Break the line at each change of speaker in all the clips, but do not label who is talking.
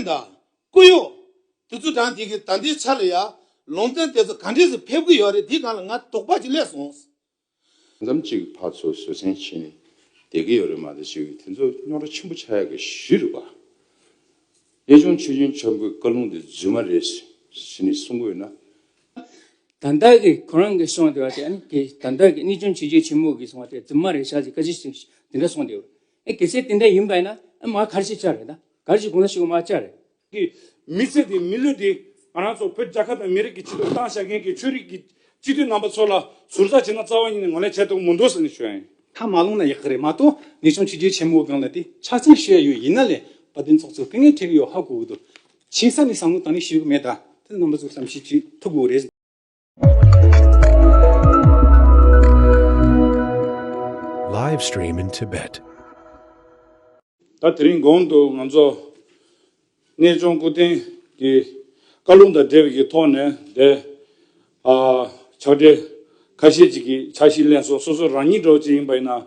བསྟན་དང། བཀུར་གཡོ། དེ་ཚོ་དྲང་བདེན་གྱི་ད་འདི་ཆ་ལ་ཡག། ལུང་བསྟན་དེ་ཚོ་ག་འདྲས་སུ་ཕེབས་ཀྱི་ཡོད་རེད་འདི་གང་ལ་ང་དོགས་པ་ཅིག་སླེབས་སོང། མཚམས་
གཅིག་ཕ་ཚོ་བཟོད་བསྲན་བྱས་ནས་བསྡད་ཀྱི་ཡོད་རེད་མ་དེ་ཞིག་དེ་ཚོ་རྙོག་དྲ་ཆེན་པོ་ཆགས་ཡག་གི་གཞི་རུ་བ། གཡས་གཅོང་མཆོད་སྦྱིན་ཆོག་མགོའི་བཀའ་ལུང་དེ་རྫུན་མ་རེད་ཟེར་ནས་གསུང་གི་ཡོད་
ན། ད་ལྟ་གི་ཁོ་རང་གི་གསུང་དེ་བ་དེ་ཨ་ནི་དེ་ད་ལྟ་གི་གནས་ཆུང་བྱེས་ཆོས་ཆེན་མོ་གིས་གསུང་བ་དེ་རྫུན་མ་རེད་ཤག་ཅིག་ཀ་ཅི་ཞིག་དེ་འདྲ་གསུང་དེ། ཨེ་གལ་སྲིད་དེ་འདྲ་ཡིན་པས་ན་ཨེ་མ་གར་ཞིག་བཅར་རེད་ད། གར་ཞིག་གང་ན་ཞིག་ཨོ་མ་བཅར་རེད། གི་མི་
ཚེ་དེ་མི་ལུས་ཏེ་ང་རང་ཚོ་བོད་རྒྱ་ཁབ་དང་མི་རིགས་ཀྱི་སྤྱི་དོན་བཏང་བཞག་མཁན་གྱི་ཆོས་རིགས་ཀྱི་སྤྱི་མཐུས་རྣམ་པ་ཚོ་ལ་ཟུར་ཟ་བྱེད་ན་རྩ་བ་ཉིད་ནས་ངོ་ལེན་བྱས་ཐུབ་ཀྱི་མོ་འདུག་ཟེར་ནས་ཞུ་ཡ་ཡིན། ཐ་མ་ལུང་ན་ཡག་གི་
རེད་མ་གཏོགས་ངེས་ཆུང་ཆུ་རྒྱུད་ཆེན་མོ་སྒང་ལ་དེ་ཕྱག་འཚལ་ཞུ་ཡ་ཡོད་ཡིན་ན་ལས་བ་དེ་ཚོགས་ཚོ་སྐད་ངན་ཁྲེལ་གི་ཡོད་ཧ་གོ་གི་འདུག་ཆིང་ས་ནས་བཟང་མོ་དང་ནི་ཞུ་གི་མེད་ད་དེ་རྣམ་པ་ཚོ་བསམ་ཤེས་བྱེད་ཐུབ་གི་རེད།
ད་
དེ་རིང་གོང་དུ་ང་ཚོ་གནས་ལྗོངས་སྐུ་རྟེན་གྱི་བཀའ་ལུང་དང་འབྲེལ་བའི་གི་ཐོག་ནས་དེ་ཕྱག་སྦྲེལ་ཁ་ཤས་ཅིག་གིས་ཕྱག་ཤི་ལན་སོགས་སོ་སོ་རང་ཉིད་སྒྲོག་བྱེད་ཡིན་པ་ཡིན་ན།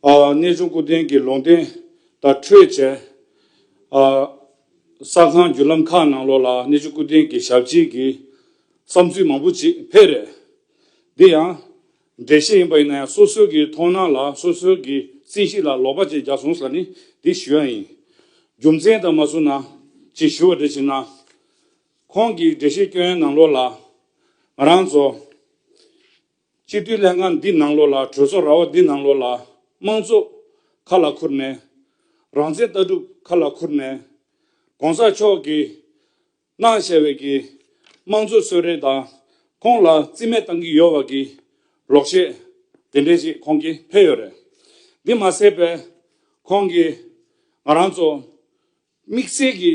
གནས་ཆུང་སྐུ་རྟེན་གྱི་ལུང་བསྟན་དང་འཕྲོས་བཅས། གསར་ཁང་བརྒྱུད་ལམ་ཁག་ནང་ལོགས་ལ་གནས་ཆུང་སྐུ་རྟེན་གྱི་ཞབས་རྗེས་ཀྱི་བསམ་ཚུལ་མང་པོ་ཅིག་འཕེལ་རེད། འདི་ཡང་འགྲེལ་བཤད་ཡིན་པ་ཡིན་ན་ཡང་སོ་སོའི་གི་མཐོང་སྣང་ལ་སོ་སོའི་གི་རྩིས་གཞི་ལ་ལོག་པ་ཅིག་རྒྱག་སོང་ས་ནི་འདི་ཞུ་ཡ་ཡིན། རྒྱུ་མཚན་དང་མ་མཚུངས་ན་ཅིག་ཞུ་བ་འདྲ་བྱིན་ན། ཁོང་གི་འགྲེལ་བཤད་སྐྱོན་ཡོན་ནང་ལོགས་ལ་ང་རང་ཚོ། སྤྱི་འཐུས་ལྷན་ཁང་འདི་ནང་ལོགས་ལ་གྲོས་ཚོགས་ར་བ་འདི་ནང་ལོགས་ལ་དམངས་གཙོ་ཁ་ལ་ཁུར་ནས། རང་བཙན་ལྟ་གྲུབ་ཁ་ལ་ཁུར་ནས། གོང་ས་མཆོག་གིས་གནང་བྱས་བའི་གི་དམངས་གཙོའི་གསོལ་རས་དང་ཁོང་ལ་རྩིས་མེད་བཏང་གི་ཡོད་བ་གི་རོགས་བྱས་དེ་འདྲས་ཅིག་ཁོང་གིས་ཕེབས་ཡོད་རེད། འདི་མ་ཟད་པས་ཁོང་གིས་ང་རང་ཚོ་དམིགས་བསལ་གི་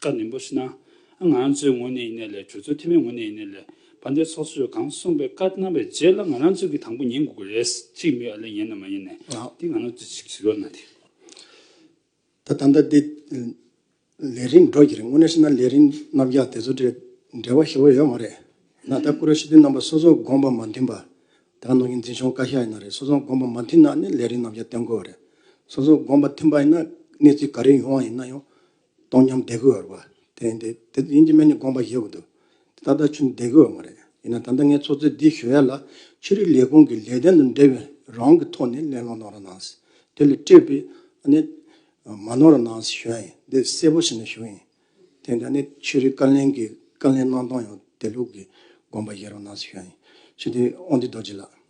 བཀའ་ནན་པོ་ཞུ། ང་ཚོའི་ངོས་ནས་ཡིན་ན་ལས་གྲོས་ཚོགས་འཐུས་མའི་ངོས་ནས་ཡིན་ན་ལས་བ་འདས་ཚོགས་གཙོས་གང་གསུངས་པའི་བཀའ་གནང་བའི་རྗེས་ལ་ང་རང་ཚོས་ཀྱི་དང་པོ་ཉན་དགོས་ཀྱི་རེད་ཅིག་མི་ཨ་ལས་ཡིན་ནམ་མ་ཡིན་ནས་དེ་ང་རང་ཚོས་ཅིག་བྱེད་དགོས་ན་དེ། ད་ད་ལྟ་
དེ་ལས་རིང་འགྲོ་གྱི་རེད་དངོས་གནས་བཤད་ན་ལས་རིང་རྣམ་རྒྱག་དེ་ཚོ་འབྲེལ་བ་ཞེ་བོ་ཡོད་མ་རེད་ན་ད་ཀུ་རེ་ཞི་བདེ་རྣམ་པ་སོ་སོ་དགོངས་པ་མ་མཐུན་པ་དག་ནང་གི་འཛིན་སྐྱོང་བཀའ་ཤག་ཡིན་ན་རེད་སོ་སོ་དགོངས་པ་མ་མཐུན་ན་ནི་ལས་རིང་རྣམ་རྒྱག་སྟོན་དགོས་རེད་སོ་སོ་དགོངས་པ་མཐུན་པ་ཡིན་ན་གནས་ཚུལ་ག་རེ་ཡོང་བ་ཡིན་ན་ཡང་སྟོང་ཉམས་བདེ་གོ་བར་བ། དེ་ཡིན་དེ་ཡིན་གྱི་སྨན་ནི་དགོངས་པ་བཞེས་དགོས་འདུག་དེ་ད་ལྟ་ཆུ་བདེ་གོ་བ་མ་རེད། ཡིན་ན་ད་ལྟ་ངས་ཚོགས་གཙོས་འདི་ཞུ་ཡ་ལ་ཆོས་རིག་ལས་ཁུངས་ཀྱི་ལས་དོན་དང་འབྲེལ་བའི་རང་གི་ཐོག་ནས་གླེང་སློང་གནང་རོགས་གནང། དེ་ལས་སྤྲོས་པའི་གནས་མ་གནང་རོགས་གནང་ཞུ་ཡ་ཡིན་འདི་གསལ་པོ་བྱས་ནས་ཞུ་ཡིན། དེ་ཡིན་དེ་ཆོས་རིག་བཀའ་ལན་གྱི་བཀའ་ལན་གནང་སྟངས་ཡང་དེ་ལུགས་ཀྱི་དགོངས་པ་བཞེས་རོགས་གནང་ཞུ་ཡ་ཡིན། ཞུ་དེ་དབང་འདུས་རྡོ་རྗེ་ལགས།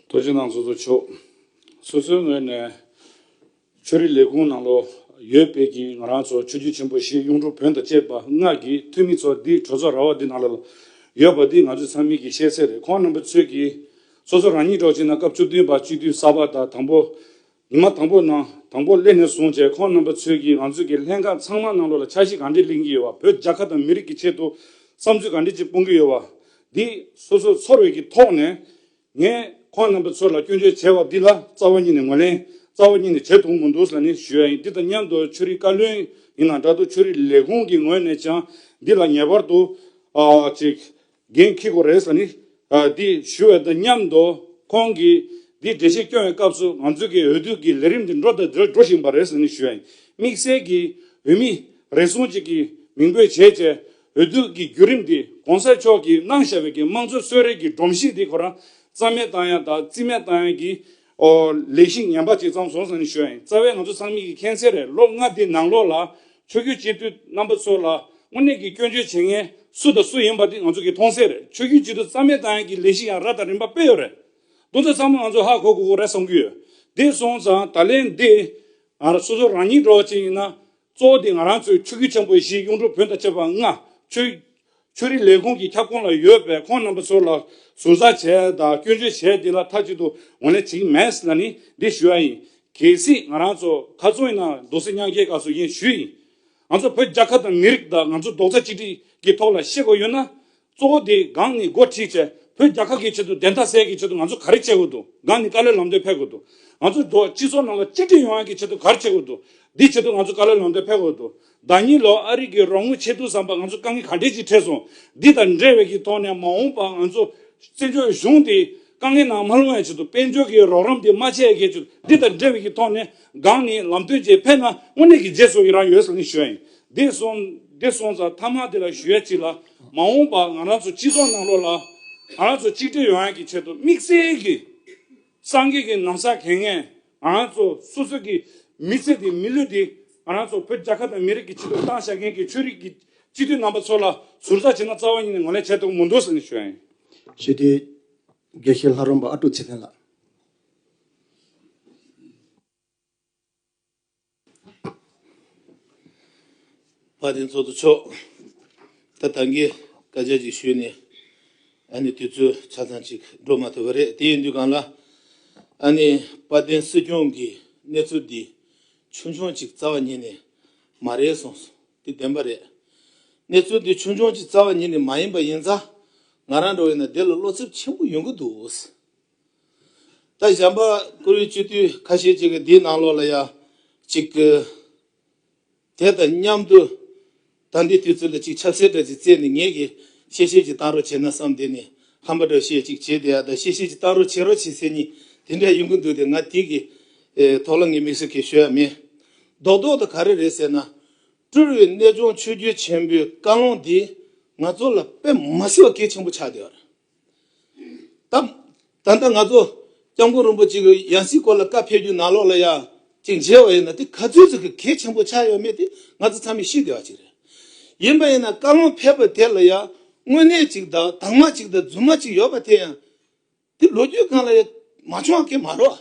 རྡོ་རྗེ་ནང་
ཚོགས་གཙོ་མཆོག། སོ་སོའི་ངོས་ནས། ཆོས་རིག་ལས་ཁུངས་ནང་ལོ་ཡོད་སྤེལ་གྱིས་ང་རང་ཚོ་ཆོས་བརྒྱུད་ཆེན་པོ་བཞི་གཡུང་དྲུང་བོན་དང་བཅས་པ་སྔགས་ཀྱི་ཐུན་མི་ཚོ་འདི་གྲོས་ཚོགས་ར་བ་འདི་ནང་ལ་ལོ་ཡོད་པ་འདི་ང་ཚོའི་ཚང་མིག་གི་ཤེས་གསལ་རེད་ཁོང་རྣམ་པ་ཚོས་ཀྱིས་སོ་སོ་རང་ཉིད་གྲོགས་བྱས་ན་སྐབས་བཅུ་བདུན་པ་སྤྱི་འཐུས་གསར་པ་དང་དང་པོ་ཉི་མ་དང་པོ་ནང་དང་པོ་སླེབས་ནས་བཟུང་བཅས་ཁོང་རྣམ་པ་ཚོས་ཀྱིས་ང་ཚོས་ཀྱི་ལྷན་ཁང་ཚང་མ་ནང་ལོ་ལ་འཆར་གཞི་གང་འདྲས་གླེང་གི་ཡོད་བ་བོད་རྒྱ་ཁ་དང་མི་རིགས་ཀྱི་ཆེད་དུ་བསམ་ཚུལ་གང་འདྲས་ཅིག་སྤུང་གི་ཡོད་བ་འདི་སོ་སོ་ཚོར་བའི་ཀྱི་ཐོག་ནས་ངས་ཁོང་རྣམ་པ་ཚོ་ལ་སྐྱོན་བརྗོད་བྱས་བ་འདི་ལ་རྩ་བ་ཉིད་ནས་ངོས་ལེན་རྩ་བ་ཉིད་ནས་བྱེད་ཐུབ་མོ་འདུག་ས་ནི་ཞུ་ཡ་ཡིན་འདི་དང་མཉམ་དུ་ཆོས་རིག་བཀའ་བློན་ཡིན་ན་འདྲ་འདུག་ཆོས་རིག་ལས་ཁུངས་ཀྱི་ངོས་ནས་ཀྱང་འདི་ལ་ངེས་པར་དུ་ཅིག་འགན་འཁྱི་དགོས་རེད་ས་ནི་འདི་ཞུ་བའི་དང་མཉམ་དུ་ཁོང་གིས་འདི་འགྲེལ་བཤད་སྐྱོང་བའི་སྐབས་སུ་ང་ཚོས་ཀྱི་འོས་བསྡུ་ཀྱི་ལས་རིམ་འདི་འགྲོ་དང་འགྲོ་བཞིན་པ་རེད་ས་ནི་ཞུ་ཡ་ཡིན་དམིགས་བསལ་གྱིས་འོས་མི་རེ་ཟུང་ཅིག་གི་མིང་འབོད་བྱས་བྱས་འོས་བསྡུ་གི་བརྒྱུད་རིམ་དེ་གོང་གསལ་ཕྱོགས་ཀྱི་སྣང་བཞག་བོད་ཀྱི་དམངས་གཙོའི་གསོལ་རས་ཀྱི་སྒྲོམ་གཞི་དེ་ཁོ་རང་རྩ་མེད་བཏང་ཡང་དག་རྩིས་མེད་བཏང་ཡང་གྱི། ལས་གཞི་ངན་པ་དེ་ཚང་བཟོ་བཟང་ནི་ཞོ་ཡིན་རྩ་བའི་ང་ཚོ་ཚང་མིག་གི་ཁེངས་སེ་རེད་ལོ་ལྔ་འདི་ནང་ལོགས་ལ་ཆོས་རྒྱུད་སྤྱི་འཐུས་རྣམ་པ་ཚོ་ལ་དངོས་གནས་ཀྱི་སྐྱོན་བརྗོད་བྱེད་མཁན་སུ་དང་སུ་ཡིན་པ་དེ་ང་ཚོ་གི་མཐོང་གསལ་རེད་ཆོས་རྒྱུད་སྤྱི་འཐུས་རྩ་མེད་བཏང་ཡང་གྱི་ལས་གཞི་ཡང་ར་དང་རིམ་པ་སྤེལ་ཡོད་རེད་དོ་འདི་ཚང་མ་ང་ཚོ་ཧ་གོ་གོ་གོ་རེད་བསམ་གྱི་ཡོད་དེ་སོང་ཙང་ད་ལན་འདི། སོ་སོ་རང་ཉིད་འགྲོ་བ་ཅིག་ཡིན་ན་གཙོ་བོ་དེ་ང་རང་ཚོའི་ཆོས་བརྒྱུད་ཆེན་པོའི་གཞི་གཡུང་དྲུང་བོན་དང་བཅས་པ་ལྔ། ཆོས་རིག་ལས་ཁུངས་ཀྱི་ཁྱབ་ཁོངས་ལ་ཡོད་པས་ཁོང་རྣམ་པ་ཚོ་ལ་ཟུར་ཟ་བྱས་དང་སྐྱོན་བརྗོད་བྱས་དེ་ལ་མཐའ་གཅིག་ཏུ་ངོས་ལེན་བྱེད་ཀྱི་མེད་ལ་ནི་འདི་ཞུ་ཡ་ཡིན། གལ་སྲིད་ང་རང་ཚོ་ཁ་ཚོན་ཡིན་ན་རྡོ་སེ་གཉང་རྒྱལ་ཁ་སོ་ཡིན་ཞུས་ཡིན། ང་ཚོ་བོད་རྒྱ་ཁབ་དང་མི་རིགས་དང་ང་ཚོ་རྡོག་རྩ་གཅིག་སྒྲིལ་གྱི་ཐོག་ལ་ཤེས་དགོས་ཡོད་ན་གཙོ་བོ་དེ་སྒང་ནས་འགོ་ཁྲིད་བྱས། བོད་རྒྱ་ཁག་གི་ཆེད་དུ་བདེན་མཐའ་གསལ་གྱི་ཆེད་དུ་ང་ཚོ་ག་རེ་བྱེད་དགོས་འདུག་སྒང་ནས་བཀའ་བློན་ལམ་སྟོན་ཕེབས་དགོས་འདུག་ང་ཚོ་འགྲོ་བ་སྤྱི་ཚོགས་ནང་ལ་གཅིག་སྒྲིལ་ཡོང་ཡག་གི་ཆེད་དུ་ག་རེ་བྱེད་དགོས་འདུག་འདི་ཆེད་དུ་ང་ཚོ་བཀའ་བློན་ལམ་སྟོན་ཕེབས་དགོས་འདུག་ཟླ་གཉིས་ལོར་ཨ་རིག་གི་རོགས་དངུལ་ཆད་འདུག་བསམ་པ་ང་ཚོ་དཀའ་ངལ་ག་འདྲས་ཅིག་འཕྲད་སོང་འདི་དང་འབྲེལ་བའི་གི་ཐོག་ནས་མ་འོངས་པར་ང་ཚོ་བཙན་བྱོལ་གཞུང་དེ་དཀའ་ངལ་ནང་མ་ལྷུང་བའི་ཆེད་དུ་དཔལ་འབྱོར་གི་རོགས་རམ་དེ་མ་བྱས་ཡག་གི་ཆེད་དུ་འདི་དང་འབྲེལ་བའི་གི་ཐོག་ནས་སྒང་ནས་ལམ་སྟོན་བྱས་ཕེབས་ན་དངོས་གནས་གི་རྗེས་སུ་ཡི་རང་ཡོད་ས་ལེན་ཞུ་ཡ་ཡིན་འདས་སོང་འདས་སོང་ཙང་ཐ་མག་དེ་ལ་ཞུ་ཡ་གཅིག་ལ། མ་འོངས་པར་ང་རང་ཚོ་སྤྱི་ཚོགས་ནང་ལོགས་ལ་ང་རང་ཚོ་གཅིག་སྒྲིལ་ཡོང་ཡག་གི་ཆེད་དུ་དམིགས་བསལ་གྱི་སངས་རྒྱས་ཀྱི་ནམ་ཟག་གལ་ངེས་ང་རང་ཚོ་སོ་སོ་གྱི་མི་ཚེ་དེ་མི་ལུས་དེ་ང་རང་ཚོ་བོད་རྒྱ་ཁབ་དང་མི་རིགས་ཀྱི་ཆེད་དུ་བཏང་བཞག་མཁན་གྱི་ཆོས་རིག་གི་སྤྱི་འཐུས་རྣམ་པ་ཚོ་ལ་ཟུར་ཟ་བྱེད་ན་རྩ་བ་ཉིད་ནས་ངོ་ལེན་བྱས་ཐུབ་ཀྱི་མི་འདུག་ཟེར་ནས་ཞུ་ཡ་ཡིན། ཞི་བདེའི་
དགེ་བཤེས་ལྷ་རོང་པ་ཨ་ཀྲུག་ཚེ་བརྟན་ལགས།
བ་དན་ཚོགས་འདུ་མཆོག་ད་ད་གིས་བཀའ་རྒྱ་ཅིག་ཞུས་ནས་ཨ་ནི་དུས་ཚོད་ཆ་ཚང་ཅིག་འགྲོ་མ་ཐུབ་པ་རེད་དེ་ཡིན་དུས་གང་ལ་ཨ་ནི་བ་དན་སྲིད་སྐྱོང་གིས་གནས་ཚུལ་འདི་ཆུང་ཆུང་ཅིག་རྩ་བ་ཉིད་ནས་མ་རེད་གསུངས་སོང་དེ་བདེན་པ་རེད་གནས་ཚུལ་འདི་ཆུང་ཆུང་ཅིག་རྩ་བ་ཉིད་ནས་མ་ཡིན་པ་ཡིན་ཙང་ང་རང་འགྲོ་ཡིན་ན་དེ་ལ་བློ་འཚེབ་ཆེན་པོ་ཡོང་གི་འདུག། ད་གཞན་པ་ཀུ་རེ་སྤྱི་འཐུས་ཁ་ཤས་ཅིག་གིས་འདིའི་ནང་ལོགས་ལ་ཡང་ཅིག་གི། དེ་དང་མཉམ་དུ་ད་འདི་དུས་ཚོད་ལ་ཅིག་ཆབ་སྲེད་འདྲ་ཅིག་བརྩད་ནས་ངེད་ཀྱིས་གཤེ་གཤེ་ཅིག་བཏང་རོགས་བྱེད་ན་བསམ་དེ་ནས་ཧམ་པ་འདྲ་ཤས་ཅིག་བྱས་དེ་ཡང་ད་གཤེ་གཤེ་ཅིག་བཏང་རོགས་བྱེད་རོགས་བྱེད་ཟེར་གཉིས་དེ་འདྲ་ཡོང་གི་འདུག་དེ་ང་དེ་གི་ཐོག་ལ་ངས་མིག་ཟུར་གས་ཤོད་ཡ་མེད། རྡོག་རྡོག་ཏུ་ག་རེ་རེད་ཟེར་ན། སྤྲུལ་བའི་གནས་ལྗོངས་ཆོས་རྒྱུད་ཆེན་པོའི་བཀའ་ལུང་འདིས་ང་ཚོ་ལ་དཔེ་མ་སྲིད་པ་གལ་ཆེན་པོ་ཆགས་བསྡད་པ་རེད། བཏབ། ད་ལྟ་ང་ཚོ ྋསྐྱབས་མགོན་རིན་པོ་ཆེ་གི་ཡང་སྲིད་སྐོར་ལ་བཀའ་ཕེབས་རྒྱུ་ནང་ལོགས་ལ་ཡང་ཅིག་མཇལ་བ་ཡིན་ན་དེ་ག་ཚོད་ཅིག་གི་གལ་ཆེན་པོ་ཆགས་ཡོད་མེད་དེ་ང་ཚོ་ཚང་མས་ཤེས་དགོས་བ་ཅིག་རེད། ཡིན་པ་ཡིན་ན་བཀའ་བློན་ཕེབས་པ་དེ་ལ་ཡང་དངོས་གནས་ཅིག་དང་དྭངས་མ་ཅིག་དང་རྫུན་མ་ཅིག་ཡོད་པ་དེ་ཡང་དེ་ལོ་རྒྱུས་སྒང་ལ་ཡང་མ་བྱུང་བ་ཁེ་མ་རོགས།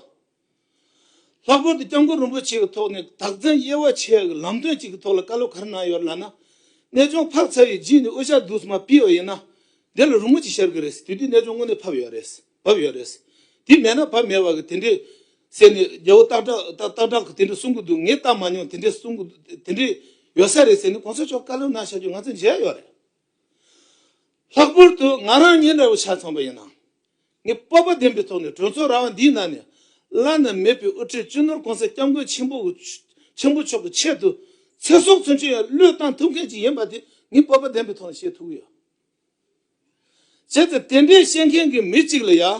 ལྷག་པར་དུ་སྐྱབས་མགོན་རིན་པོ་ཆེ་གི་ཐོག་ནས་བདག་འཛིན་དབྱེ་བ་ཕྱེ་བའི་ལམ་སྟོན་ཅིག་གི་ཐོག་ལ་བཀའ་སློབ་གར་གནང་ཡོད་རེད་ལབ་ན། གནས་ཆུང་འཕགས་ཚ་བའི་རྗེས་ནས་དབུ་ཞྭ་བསྡུས་མ་སྤེལ་བ་ཡིན་ན། དེ་ལ་རི་མོ་ཅིག་ཤར་གི་རེད། དུས་དེའི་གནས་ཆུང་དངོས་གནས་ཕབ་ཡོད་རེད། བབས་ཡོད་རེད། དེ་མེད་ན་བབས་མེད་བ་གི་དེ་འདྲའི། ཟེར་ནས་རྒྱལ་བོ་སྟག་བྲག་གི་དེ་འདྲ་གསུང་གི་འདུག་ངས་བལྟ་མ་མྱོང་དེ་འདྲའི་གསུང་གི་འདུག་དེ་འདྲའི་ཡོད་ས་རེད་ཟེར་ནས་གོང་ས་མཆོག་བཀའ་སློབ་གནང་བྱ་རྒྱུ་ང་ཚོས་མཇལ་ཡོད་རེད། ལྷག་པར་དུ་ང་རང་ཉིན་རེ་བོ་ཆ་ཚང་པ་ཡིན་ནའང། ངས་སྤོབས་པ་ལྡན་པའི་ཐོག་ནས་གྲོས་ཚོགས་ར་བ་འདིའི་ནང་ནས་བླ་ན་མེད་པའི་དབུ་ཁྲིད་སྤྱི་ནོར་གོང་ས་སྐྱབས་མགོན་ཆེན་པོ་ཆེན་པོ་མཆོག་གི་ཆེད་དུ་ཚེ་སྲོག་ཚུན་ཆོད་ཡང་བློས་བཏང་ཐུབ་མཁན་ཞིག་ཡིན་པ་དེ་ངས་སྤོབས་པ་ལྡན་པའི་ཐོག་ནས་བཤད་ཐུབ་ཀྱི་ཡོད། བྱས་ཙང་དེ་འདྲའི་བཤད་མཁན་གྱི་མི་གཅིག་ལ་ཡང།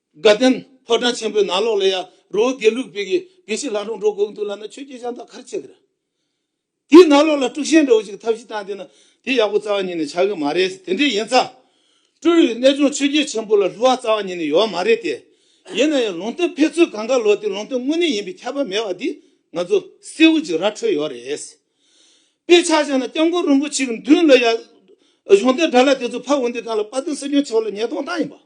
དགའ་ལྡན་ཕོ་བྲང་ཆེན་པོའི་ནང་ལོགས་ལས་ཡ་རོ་དགེ་ལུགས་པའི་གི་དགེ་བཤེས་ལྷ་འབྲོང་གྲོགས་གོ་གི་འདུག་ལབ་ན་ཆོས་རྒྱལ་ཤང་དང་ཁར་ཆེ་གི་རེད། དེའི་ནང་ལོགས་ལ་དཀྲུགས་ཤིང་འདྲ་བོ་ཞིག་ཐབས་ཤེས་བཏང་བསྡད་ན་དེ་ཡག་པོ་རྩ་བ་ཉིད་ནས་ཆགས་གི་མ་རེད་ཟེར་དེ་འདྲས་ཡིན་ཙང། དཀྲུགས་ཡུལ་གནས་ལྗོངས་ཆོས་རྒྱལ་ཆེན་པོ་ལ་ལྷུ་བ་རྩ་བ་ཉིད་ནས་ཡོད་མ་རེད་དེ། ཡིན་ན་ཡང་ལུང་སྟོན་ཕེབས་ཚུལ་གང་ག་ལོ་དེ་ལུང་སྟོན་དངོས་གནས་ཡིན་པའི་ཁྱབ་པ་མེད་བ་འདི་ང་ཚོ་གསལ་བོ་ཅིག་ར་འཕྲོད་ཡོད་རེད། དཔེ་ཆ་བཞག་ན་སྐྱབས་མགོན་རིན་པོ་ཆེ་གི་མདུན་ལ་ཡ། གཞུང་དེབ་དྲ་ལ་དེ་ཚོ་ཕབ་འོང་དུས་གང་ལ་དཔའ་རྟུལ་སྲིད་སྐྱོང་ཆེ་བ་ལ་ཉེས་རྡུང་བཏང་ཡིན་པ།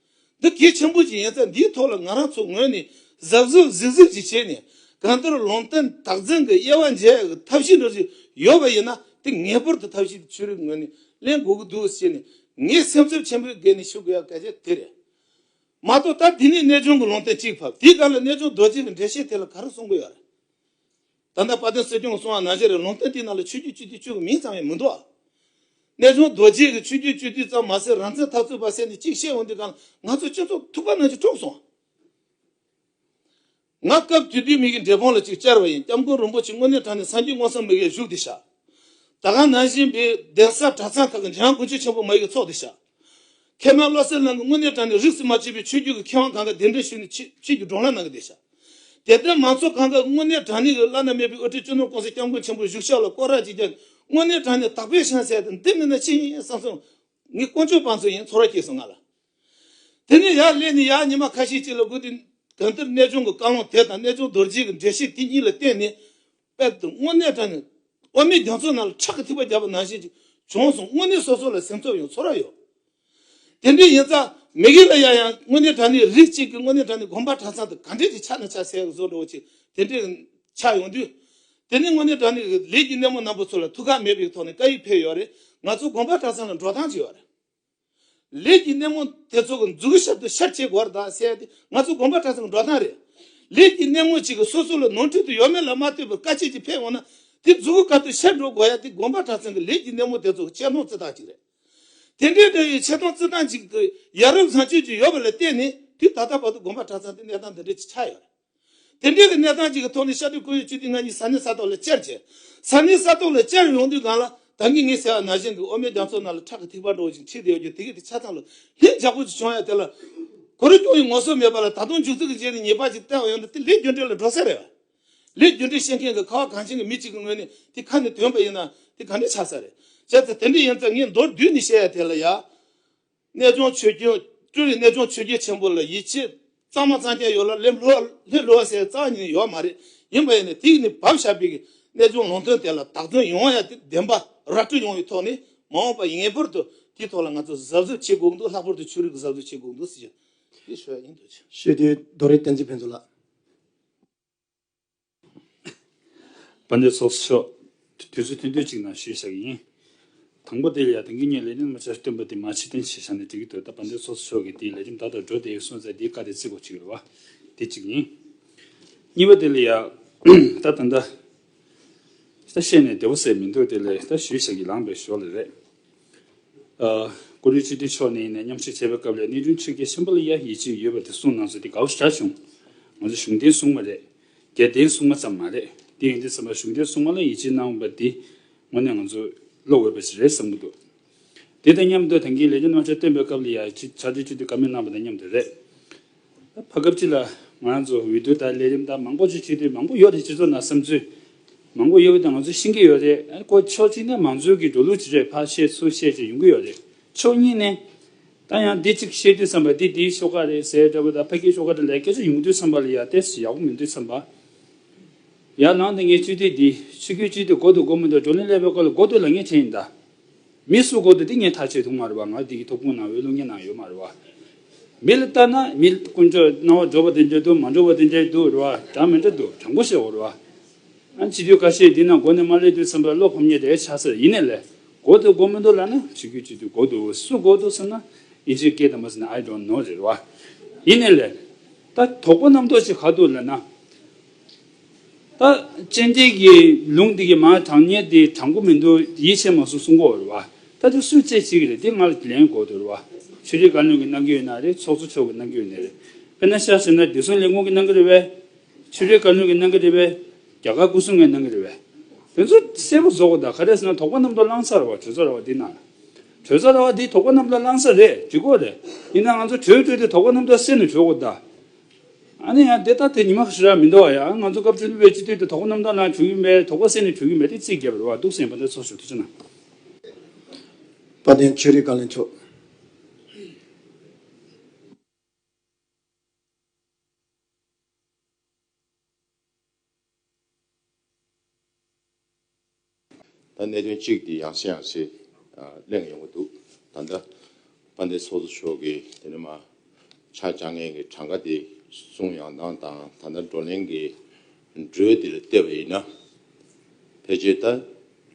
འདི་གལ་ཆེན་པོ་ཞིག་ཡིན་ཚེ་འདིའི་ཐོག་ལ་ང་རང་ཚོ་ངོས་ནས་གཟབ་གཟབ་གཟིགས་གཟིགས་ཅིག་བྱས་ནས་གང་ལྟར་ལུང་བསྟན་དག་འཛིན་གྱི་དབྱེ་བ་འབྱེད་ཡག་ཐབས་ཤེས་འགྲོ་བཞིན་ཡོད་པ་ཡིན་ན་དེ་ངེས་པར་དུ་ཐབས་ཤེས་དེ་ཆོས་རིག་ངོས་ནས་གླེང་དགོས་ཀྱི་འདུག་ཅེས་ནས་ངས་སེམས་ཚོར་ཆེན་པོས་སྒེར་ནས་ཞུ་དགོས་ཡག་གལ་ཆེན་དེ་རེད། མ་གཏོགས་ད་དེ་ནས་གནས་ཆུང་གི་ལུང་བསྟན་གཅིག་ཕབ་དེའི་སྒང་ལ་གནས་ཆུང་རྡོ་རྗེ་གི་འགྲེལ་བཤད་དེ་ལ་ག་རེ་གསུང་གི་ཡོད་རེད། ད་ལྟ་དཔའ་སྟོན་སྲིད་སྐྱོང་སོང་བ་ན་གཞི་རིག་ལུང་བསྟན་དེའི་ནང་ལ་ཆོས་རྒྱུད་སྤྱི་འཐུས་ཆོས་ཀྱི་མིང་ཙམ་ཡང་མི་འདུག་ཨ། གནས་ཆུང་རྡོ་རྗེས་ཀྱི་ཆོས་རྒྱུད་སྤྱི་འཐུས་ཙམ་མ་ཟད་རང་བཙན་ཐག་ཚུད་པ་བསད་ནས་གཅིག་བཤད་འོང་དུས་གང་ལ་ང་ཚོ་སྤྱི་ཚོགས་ཐུག་པ་ན་གཞི་དཀྲོགས་སོང་ཨ། ང་སྐབས་དུས་དུས་མིག་གི་འབྲས་སྤུངས་ལ་ཅིག་ཅར་བ་ཡིན་སྐྱབས་མགོན་རིན་པོ་ཆེ་དངོས་གནས་དྲངས་ནས་སངས་རྒྱས་དངོས་སམ་མི་གའི་བཞུགས་དེ་བཞག། ད་གང་ན་གཞི་འབའི་གདན་ས་གྲྭ་ཚང་ཁག་གི་འཇང་དགུན་ཆོས་ཆེན་པོ་མ་ཡིག་གི་ཚོགས་དེ་བཞག། མཁས་མང་བློ་གསལ་རྣམས་ཀྱིས་དངོས་གནས་དྲང་ནས་རིགས་སུ་མ་ཆུད་པའི་ཆོས་བརྒྱུད་ཀྱི་མཁས་དབང་གང་གཱ་གདན་འདྲེན་ཞུས་ནས་ཆོས་བརྒྱུད་ཀྱི་སྒྲོག་ལྷ་གནང་གི་བསྡད་ཤག། དེ་ལྟར་མང་ཚོགས་གང་གཱ་དངོས་གནས་དྲང་ནས་ཀྱི་བླ་ན་མེད་པའི་དབུ་ཁྲིད་གཅུང་ནོར་ཀོང་སའི་སྐྱབས་མགོན་ཆེན་པོ་བཞུགས་ཤག་ལ་བསྐོར་རག་ཅིག་བརྒྱབ་ནས་དངོས་གནས་དྲང་ནས་དག་པའི་ཤན་ཟེར་ཏེ་འདི་མིན་ན་ཅི་ཡིན་བསམ་སོང། ངས་དཀོན་མཆོག་དཔང་ཚོ་ཡིན་ཚོར་བ་སྐྱེས་སོང་ང་ལ། དེ་ནས་ཡར་སླེབས་ནས་ཡར་ཉི་མ་ཁ་ཤས་ཅིག་ལ་སྒུག་དེ། གང་ལྟར་གནས་ཆུང་གི་བཀའ་ལུང་དེ་དང་གནས་ཆུང་རྡོ་རྗེས་ཀྱི་འགྲེལ་བཤད་དེ་གཉིས་ལ་བརྟེན་ནས། དཔལ་དུ་དངོས་གནས་དྲན་ནས་དབུ་མའི་རྒྱ་མཚོའི་ནང་ལ་ཁྲག་གི་ཐིགས་པ་བརྒྱབ་པ་ནང་བཞིན་གྱི་བྱུང་སོང་དངོས་གནས་སོ་སོ་ལ་སེམས་ཚོར་ཡང་ཚོར་ར་ཡོད། དེ་འདྲའི་ཡིན་ཙང་མི་གི་ལ་ཡ་ཡང་དངོས་གནས་དྲན་ནས་རིགས་གཅིག་གི་དངོས་གནས་དྲན་ནས་དགོན་པ་གྲྭ་ཚང་དུ་ག་འདྲས་ཀྱི་ཆ་ནས་ཆ་ཟད་བཟོ་འགྲོ་བ་ཆེ་དེ་འདྲས་ཆགས་ཡོང་དུས། དེ་ནས་དངོས་གནས་དྲན་ནས་ལས་ཀྱི་སྣེ་མོ་རྣམ་པོ་ཚོ་ལ་ཐུགས་ཁག་མེད་པའི་ཐོག་ནས་བཀའ་ཡིག་ཕེབས་ཡོད་རེད་ང་ཚོ་དགོན་པ་གྲྭ་ཚང་ལ་འགྲོ་སྟངས་ཅི་ཡོད་རེད། ལས་ཀྱི་སྣེ་མོ་དེ་ཚོ་གི་འཛུགས་ཞབས་ཏུ་ཤར་ཕྱེད་སྒོར་དང་བསྲེས་ཏེ་ང་ཚོ་དགོན་པ་གྲྭ་ཚང་གི་འགྲོ་སྟངས་རེད། ལས་ཀྱི་སྣེ་མོ་གཅིག་གིས་སོ་སོ་ལ་ནོར་འཁྲུལ་དུ་ཡོད་མེད་ལ་མ་ལྟོས་པར་དཀའ་སྤྱད་ཀྱིས་ཕེབས་འོང་ན་དེ་འཛུགས་སྐབས་ཏུ་ཤར་འགྲོ་དགོས་ཡ་དེ་དགོན་པ་གྲྭ་ཚང་གི་ལས་ཀྱི་སྣེ་མོ་དེ་ཚོ་གི་ཆེ་མཐོང་བརྩི་སྟངས་གཅིག་རེད། དེ་འདྲའི་འདྲ་བའི་ཆེ་མཐོང་བརྩི་སྟངས་གཅིག་དེ་ཡ་རབས་བཟང་སྤྱོད་ཅིག་ཡོད་པ་ལ་བརྟེན་ནས་དུས་ད་ལྟ་བར་དུ་དགོན་པ་གྲྭ་ཚང་དེ་གནས་སྟངས་འདི་འདྲའི་ཆགས་ཡོད་རེད། དེ་འབྲེལ་གྱི་གནས་སྟངས་གཅིག་གི་ཐོག་ནས་ཤར་ཏུ་ཁོར་ཡུག་བཅུ་དུས་ལྔ་གཉིས་ས་གནས་ས་ཐོག་ལ་བཅར་ཆེད། ས་གནས་ས་ཐོག་ལ་བཅར་ཡོང་དུས་སྒང་ལ་ད་གིན་ངའི་ཟེར་བ་ན་གཞོན་འདུག་འོ་མའི་རྒྱ་མཚོ་ན་ལ་ཁྲག་གི་ཐིགས་པ་འགྲོ་བཞིན་མཆིས་བསྡད་ཡོད་རྒྱུ་དེ་གས་དེ་ཆ་ཚང་ལ་ལྷིང་འཇགས་པོ་ཅིག་བྱུང་ཡ་དེ་ལ་གོ་རེ་སྐྱོང་ཡི་ངོ་སོ་མེད་པ་ལ་ད་དུང་མཇུག་རྩིག་གི་རྗེས་ནས་ཉེས་པ་ཅིག་བསྟན་བ་ཡོང་ན་དེ་ལས་རྒྱུ་འབྲས་ལ་འགྲོ་ས་རེད། ལས་རྒྱུ་འབྲས་ཤེས་མཁན་གྱི་ཁ་བ་གངས་ཅན་གྱི་མི་གཅིག་གི་ངོས་ནས་དེ་ཁ་ནས་དོན་པ་ཡིན་ན་དེ་ག་འདྲ་ཆགས་ས་རེད། བྱས་ཙང་དེ་འདྲ་ཡིན་ཙང་ངས་མདོར་བསྡུས་ནས་བཤད་ཡ་དེ་ལ་ཡ། གནས་སྦྱོང་ཆོས་རྒྱལ། སྤྲུལ་རིགས་གནས་སྦྱོང་ཆོས་རྒྱལ་ཆེན་པོ་ལ་ཡིད་ཆེས་གཙང་མ་གཙང་རྒྱ་ཡོད་ལ་ལྷའི་བསླུ་བ་སའི་གཙང་ཉིད་ཡོད་མ་རེད་ཡིན་པ་ཡིན་ནས་དེ་ནི་བབ་ཞབས་པའི་གནས་སྦྱོང་ལུང་དོན་དེ་ལ་དག་དོན་ཡོང་ཡ་དེ་བདེན་པ་ར་སྤྲོད་ཡོང་བའི་ཐོག་ནས་མ་འོངས་པ་ངེས་པར་དུ་དེའི་ཐོག་ལ་ང་ཚོ་གཟབ་གཟབ་བྱེད་དགོས་འདུག་ལྷག་པར་དུ་ཆོས་རིག་གཟབ་གཟབ་བྱེད་དགོས་འདུག་ཟེར་རྒྱུ་དེ་ཞུ་ཡ་ཡིན་འདུག། ཤེས་ལྡན་རྡོ་རིང་བསྟན་
འཛིན་ཕུན་ཚོགས་ལགས།
པ་འདི་ཚོགས་སུ་ཤོག། དུས་ཚོད་ཐུང་དུས་གཅིག་ནང་ཞུས་བཞག་ཡིན། དང་པོ་དེ་ལ་དེང་གི་ངས་ལས་རིམ་ལྔ་ཆར་བསྟུན་པ་དེ་མ་ཕྱི་གཏན་ཕྱི་བཞག་ནས་བྲི་གི་འདུག་ད་པ་འདི་ཚོགས་སུ་ཤོག་གི་དེའི་ལས་རིམ་ད་ལྟ་འགྲོ་བདེ་སོང་ཚད་འདིའི་བཀའ་དེ་རྩིས་གོ་གཅིག་རེད་བ། དེ་གཅིག་ཡིན། གཉིས་པ་དེ་ལ་ཡང། ད་ད་ད། ད་བཤད་ནས་བདེ་བོ་ཟེར་མི་འདུག་དེ་ལས་ད་ཞུས་བཞག་གི་ལངས་པའི་ཞོར་ལས་རེད། གུ་རུའི་སྤྱི་འཐུས་མཆོག་ནས་ཡིན་ན་མཉམ་ཞུགས་བྱས་པའི་སྐབས་ལས་གནས་དྲུང་ཆེར་ཀེ་ཤམ་པོ་ལ་ཡ་ཡི་ཅིག་ཡོད་པ་དེ་གསུངས་གནང་ཚོད་དེ་དགའ་བོ་ཆགས་བྱུང། ང་ཚོ་གཞུང་འབྲེལ་སྲུང་མ་རེད། རྒྱལ་བསྟན་སྲུང་མ་ཙམ་མ་རེད། དེ་ཡིན་དུས་ཚང་མ་གཞུང་འབྲེལ་སྲུང་མ་ལ་ཡིད་ཆེས་གནང་བ་འདི་དངོས་གནས་ང་ཚོ་བློ་འོས་པ་ཞིག་རེད་བསམ་གྱི་འདུག་དེ་དང་མཉམ་དུ་ད་གིན་ལས་ཀྱི་རྣམ་གཞག་བཏོན་པའི་སྐབས་ལ་ཡ་ཡི་ཅིག་ཕྱག་འབྲེལ་བཅུ་དུས་ཀ་མེད་གནང་བ་དང་མཉམ་དུ་རེད། བར་སྐབས་གཅིག་ལ་ང་རང་ཚོ་འོས་བསྡུ་དང་ལས་རིམ་དང་མང་པོ་ཞིག་བྱེད་དུས་མང་པོ་ཡོད་རེད་སྤྱི་ཚོགས་ནང་བསམ་ཚུལ་མང་པོ་ཡོད་དང་ང་ཚོ་ཤེས་ཀྱི་ཡོད་རེད་ཨ་ཁོ་ཕྱོགས་གཅིག་ནས་མང་གཙོའི་གི་འགྲོ་ལུགས་ཇི་རེད་ཕར་བཤད་ཚུར་བཤད་ཅིག་ཡོང་གི་ཡོད་རེད་ཕྱོགས་གཉིས་ནས། ད་ཡང་འདི་གཅིག་བཤད་དུས་བསམ་པ་འདི་དེའི་ཤོག་ཁག་རེད་ཟེར་འདྲ་བོ་དང་ཕ་གིའི་ཤོག་ཁག་འདྲ་ལས་སྐད་ཆ་ཡོང་དུས་བསམ་པ་ལ་ཡར་ལྟས་སུ་ཡག་པོ་མི་འདུག་བསམ་པ་ཡར་ལངས་ཏེ་ངས་སྤྱི་འཐུས་འདི་ཕྱི་གོས་གཅིག་དུ་མགོ་དུ་མགོ་མི་འདུག་བགྲོ་གླེང་ཀླད་པའི་སྐོར་ལ་མགོ་སྟོད་ལ་ངས་བྱས་ཡིན་ད། མི་སུ་གོ་དེ་དེ་ངས་ཐག་ཆད་འདུག་མ་རེད་པ་ང་དེ་གི་ཐོབ་ཁུངས་ནང་བའི་གློག་བརྙན་ནང་ཡོད་མ་རེད་པ། མི་ལ་ལྟ་ན་མི་དཀོན་མཆོག་སྣང་བ་འགྲོ་བ་དེ་འདྲའི་འདུག་མ་འགྲོ་བ་དེ་འདྲའི་འདུག་རེད་བ་དྲང་མི་འདྲ་འདུག་དྲང་པོ་བཤད་འོག་རེད་བ། ཨ་སྤྱི་འཐུས་ཁ་ཤས་འདི་ན་མགོ་ནས་མ་ལས་དུས་ཚང་པའི་བློ་ཕམ་ཉེས་དེ་ཆགས་སར་ཡིན་ནས་ལས་གོ་དེ་གོ་མི་འདུག་ལ་ན་བྱེད་རྒྱུ་ཅི་འདུག་གོ་འདུག་སུ་གོ་འདུག་ཟེར་ན་ཨི་ཇི་སྐད་དང་པོ་ཟེར་ན I don't know རེད་བ། ཡིན་ནས་ལས། ད་དོག་པོ་རྣམ་རྟོག་ཅིག་ག་འདུག་ལ་ན། ད་ཅི་འདི་གི་ལུང་འདི་གི་མ་དྲང་ཉེ་འདི་དྲང་པོ་མི་འདུག་ཡིད་ཆེས་མ་གསུངས་གསུང་གོ་རེད་བ། ད་དེ་སུས་བཙལ་བྱེད་ཀྱི་རེད་དེ་ང་ལ་ལན་གོ་དུ་རེད་བ། ཆོས་རིག་བཀའ་བློན་གྱི་གནང་གི་ཡོད་ན་རེད་ཚོགས་གཙོ་མཆོག་གི་གནང་གི་ཡོད་ནི་རེད། དཔེར་ན་ཤར་ཟེར་ན་བདེ་སྲུང་ལས་ཁུངས་ཀྱི་གནང་གི་རེད་བས། ཆོས་རིག་བཀའ་བློན་གྱི་གནང་གི་རེད་བས། རྒྱ་གར་སྐུ་སྲུང་ངའི་གནང་གི་རེད་བས། དེ་ཚོ་གསལ་པོ་བཟོ་གོ་ད་ག་རེ་ཟེར་ན་དོགས་པ་རྣམས་དོ་བླངས་ས་རེད་བ་གྲོས་ཚོགས་རེད་བ་འདི་ནང་ལ། གྲོས་ཚོགས་རེད་བ་འདིས་དོགས་པ་རྣམས་དོ་བླངས་ས་རེད་འདྲི་གོ་རེད། ཡིན་ན་ང་ཚོ་གྲོས་བགྲོས་ཏེ་དོགས་པ་རྣམས་དོ་སེལ་ནས་གྲོས་གོ་ད། ཨ་ནེ་ཡང་འདི་ལྟར་དེ་ཉི་མ་ཧྲི་ར་མི་འདོར་བ་ཡང་ང་ཚོ་སྐབས་བཅུ་བདུན་པའི་སྤྱི་འཐུས་དེ་དོགས་པ་རྣམ་དག་ནང་བྱུང་ཡོད་མེད་དོགས་པ་སེམས་ནས་བྱུང་ཡོད་མེད་དེ་རྩིས་རྒྱབ་རེ་བ་འདུག་སེམས་པ་འདི་ཚོར་ཞུ་དུས་ཚོད་ནང། དཔལ་ལྡན་
ཆོས་རིག་བཀའ་བློན་མཆོག། ད་གནད་དོན་གཅིག་དེ་ཡང་སེ་ཡང་སེ་
གླེང་ཡོང་གི་འདུག་ད་ལྟ་དཔལ་ལྡན་ཚོགས་གཙོ་མཆོག་གིས་དེ་རིང་མ་ཆགས་སྤྱང་ངན་གྱི་གྲངས་ཀ་དེ་གསུང་ཡང་དང་དང་ད་ལྟ་བགྲོ་གླེང་གི་འགྲོས་འདིར་བལྟས་པ་ཡིན་ན། ཕལ་ཆེར་ད་